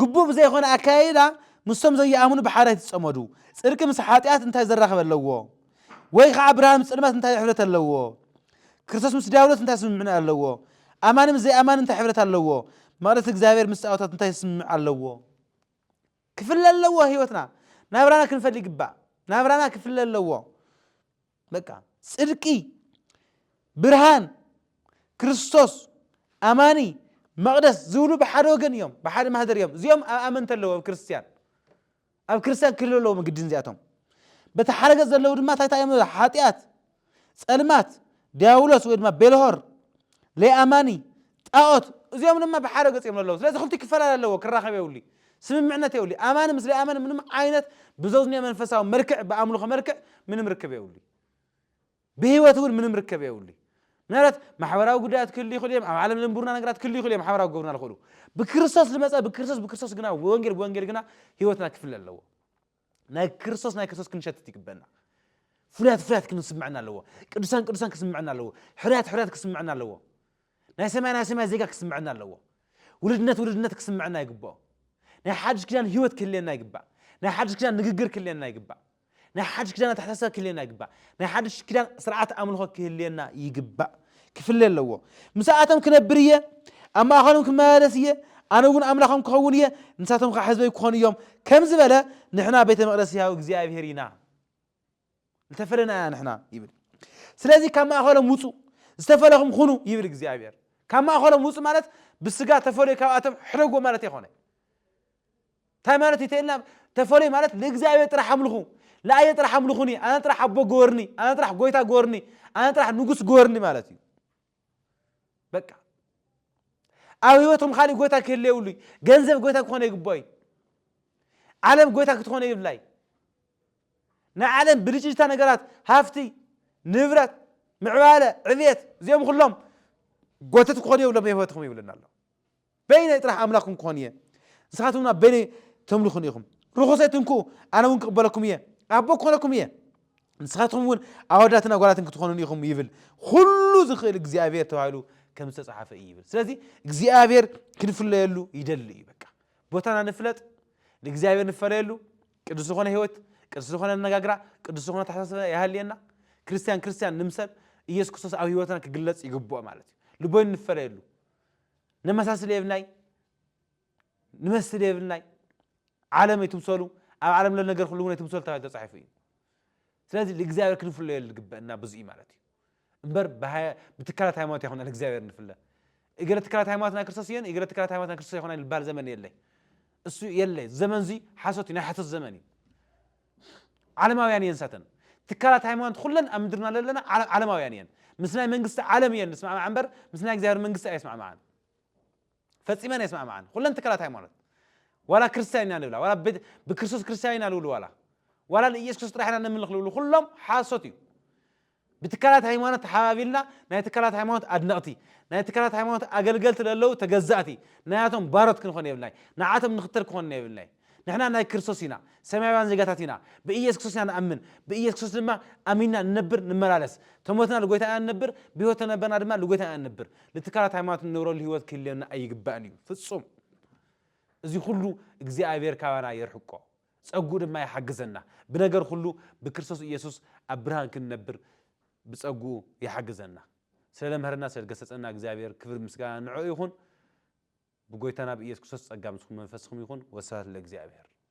ግቡእ ብዘይኮነ ኣከያይዳ ምስቶም ዘይኣምኑ ብሓድሕድ ይጸመዱ። ጽድቂ ምስ ሓጢኣት እንታይ ዘራኽብ ኣለዎ? ወይ ኸኣ ብርሃን ምስ ጸልማት እንታይ ሕብረት ኣለዎ? ክርስቶስ ምስ ዲያብሎስ እንታይ ስምምዕነት ኣለዎ? ኣማኒ ምስ ዘይኣማኒ እንታይ ሕብረት ኣለዎ? መቕደስ እግዚኣብሔር ምስ ጣኦታት እንታይ ስምምዕ ኣለዎ? ክፍለ ኣለዎ ህይወትና ናብራና ክንፈል ይግባእ ናብራና ክፍለ ኣለዎ። በቃ ጽድቂ ብርሃን ክርስቶስ ኣማኒ መቕደስ ዝብሉ ብሓደ ወገን እዮም፣ ብሓደ ማህደር እዮም። እዚኦም ኣብ ኣመንቲ ኣለዎ ኣብ ክርስትያን ኣብ ክርስትያን ክህሉ ኣለዎም ግድን እዚኣቶም። በቲ ሓደ ገጽ ዘለዉ ድማ እንታይ እንታይ እዮም ሓጢኣት፣ ጸልማት፣ ዲያብሎስ ወይ ድማ ቤልሆር፣ ለይኣማኒ፣ ጣኦት እዚኦም ድማ ብሓደ ገፅ እዮም ለለዉ ስለዚ ክልቲኡ ክፈላለ ኣለዎ ክራኸብ የብሉይ ስምምዕነት የብሉይ ኣማኒ ምስ ለይኣመኒ ምንም ዓይነት ብዘዝንዮ መንፈሳዊ መልክዕ ብኣምልኾ መልክዕ ምንም ርክብ የብሉይ ብህይወት እውን ምንም ርከብ የብሉይ ምናልባት ማሕበራዊ ጉዳያት ክህሉ ይኽእሉ እዮም ኣብ ዓለም ዝንብሩና ነገራት ክህሉ ይኽእሉ እዮም ሓበራዊ ክገብሩና ዝኽእሉ ብክርስቶስ ዝመፀ ብክርስቶስ ብክርስቶስ ግና ብወንጌል ብወንጌል ግና ህይወትና ክፍለ ኣለዎ ናይ ክርስቶስ ናይ ክርስቶስ ክንሸትት ይግበና ፍሉያት ፍሉያት ክንስምዐና ኣለዎ ቅዱሳን ቅዱሳን ክስምዐና ኣለዎ ሕርያት ሕርያት ክስምዐና ኣለዎ ናይ ሰማይ ናይ ሰማይ ዜጋ ክስምዐና ኣለዎ ውልድነት ውልድነት ክስምዐና ይግብኦ ናይ ሓድሽ ኪዳን ህይወት ክህልየና ይግባእ ናይ ሓድሽ ኪዳን ንግግር ክህልየና ይግባእ ናይ ሓድሽ ኪዳን ኣተሓሳስባ ክህልየና ይግባእ ናይ ሓድሽ ኪዳን ስርዓት ኣምልኾ ክህልየና ይግባእ ክፍለ ኣለዎ። ምስኣቶም ክነብር እየ፣ ኣብ ማእከሎም ክመላለስ እየ፣ ኣነ እውን ኣምላኾም ክኸውን እየ፣ ንሳቶም ኸኣ ሕዝበይ ክኾኑ እዮም ከም ዝበለ፣ ንሕና ቤተ መቕደስ ሕያው እግዚኣብሔር ኢና። ዝተፈለና ኢና ንሕና ይብል። ስለዚ ካብ ማእከሎም ውጹ፣ ዝተፈለኹም ኹኑ ይብል እግዚኣብሔር። ካብ ማእከሎም ውጹ ማለት ብስጋ ተፈልዮ ካብኣቶም ሕደጎ ማለት ኣይኮነ። ታይ ማለት እዩ ተኢልና ተፈለዩ ማለት ንእግዚኣብሔር ጥራሕ ኣምልኹ ለኣየ ጥራሕ ኣምልኹኒ ኣነ ጥራሕ ኣቦ ግበርኒ ኣነ ጥራሕ ጎይታ ግበርኒ ኣነ ጥራሕ ንጉስ ግበርኒ ማለት እዩ በቃ ኣብ ህይወትኩም ካሊእ ጎይታ ክህለ የብሉ ገንዘብ ጎይታ ክኾነ ይግባእ እዩ ዓለም ጎይታ ክትኾነ ይብላ እዩ ናይ ዓለም ብልጭልጭታ ነገራት ሃፍቲ ንብረት ምዕባለ ዕብየት እዚኦም ኩሎም ጎተት ክኾኑ የብሎም ህይወትኩም ይብለና ኣሎ በይነይ ጥራሕ ኣምላኽኩም ክኾን እየ፣ ንስኻትኩም ድማ በይነይ ተምልኹኒ ኢኹም። ርኹስ ኣይትንክኡ፣ ኣነ እውን ክቕበለኩም እየ፣ ኣቦ ክኾነኩም እየ፣ ንስኻትኩም እውን ኣወዳትን ኣጓላትን ክትኾኑኒ ኢኹም ይብል፣ ዅሉ ዝኽእል እግዚኣብሄር ተባሂሉ ከም ዝተጻሕፈ እዩ ይብል። ስለዚ እግዚኣብሄር ክንፍለየሉ ይደሊ እዩ። በቃ ቦታና ንፍለጥ፣ ንእግዚኣብሄር ንፈለየሉ፣ ቅዱስ ዝኾነ ህይወት፣ ቅዱስ ዝኾነ ኣነጋግራ፣ ቅዱስ ዝኾነ ኣተሓሳስባ ይሃልየና፣ ክርስትያን ክርስትያን ንምሰል፣ ኢየሱስ ክርስቶስ ኣብ ህይወትና ክግለጽ ይግብኦ ማለት እዩ። ልቦይ ንፈለየሉ። ነመሳስል የብልናይ ንመስል የብልናይ ዓለም ኣይትምሰሉ ኣብ ዓለም ዘሎ ነገር ኩሉ እውን ኣይትምሰሉ ተባሂሉ ተጻሒፉ እዩ ስለዚ ንእግዚኣብሔር ክንፍለዮ ዝግበእና ብዙ እዩ ማለት እዩ እምበር ብትካላት ሃይማኖት ኣይኮና ንእግዚኣብሔር ንፍለ እገለ ትካላት ሃይማኖት ናይ ክርስቶስ እየን እገለ ትካላት ሃይማኖት ናይ ክርስቶስ ኣይኮና ዝበሃል ዘመን የለይ እሱ የለይ ዘመን እዚ ሓሶት እዩ ናይ ሓሶት ዘመን እዩ ዓለማውያን እየን ንሳተን። ትካላት ሃይማኖት ኹለን ኣብ ምድርና ለለና ዓለማውያን እየን። ምስ ናይ መንግስቲ ዓለም እየን ዝስማዕማዓ እምበር ምስ ናይ እግዚኣብሔር መንግስቲ ኣይስማዕማዓን። ፈጺመን ኣይስማዕማዓን ኹለን ትካላት ሃይማኖት። ዋላ ክርስትያን ኢና ልብላ፣ ዋላ ብክርስቶስ ክርስትያን ኢና ልብሉ፣ ዋላ ዋላ ንኢየሱስ ክርስቶስ ጥራሕ ኢና ነምልኽ ልብሉ፣ ኹሎም ሓሶት እዩ። ብትካላት ሃይማኖት ተሓባቢልና ናይ ትካላት ሃይማኖት ኣድነቕቲ ናይ ትካላት ሃይማኖት ኣገልገልቲ ለለዉ ተገዛእቲ ናያቶም ባሮት ክንኾን የብልናይ ንዓቶም ንኽተል ክኾንና የብልናይ ንሕና ናይ ክርስቶስ ኢና ሰማያውያን ዜጋታት ኢና ብኢየሱስ ክርስቶስ ኢና ንኣምን ብኢየሱስ ክርስቶስ ድማ ኣሚንና ንነብር ንመላለስ ተሞትና ልጎይታ ኢና ንነብር ብህይወት ተነበርና ድማ ልጎይታ ኢና ንነብር ንትካላት ሃይማኖት ንነብረሉ ህይወት ክህልየና ኣይግባእን እዩ ፍጹም እዚ ኩሉ እግዚኣብሔር ካባና የርሕቆ ጸግኡ ድማ ይሓግዘና። ብነገር ኹሉ ብክርስቶስ ኢየሱስ ኣብ ብርሃን ክንነብር ብጸግኡ ይሓግዘና። ስለ ለምሀረና ስለ ገሰጸና እግዚኣብሔር ክብር ምስጋና ንዕኡ ይኹን። ብጎይታና ብኢየሱስ ክርስቶስ ጸጋ ምስኩም መንፈስኩም ይኹን። ወስብሐት ለእግዚኣብሔር።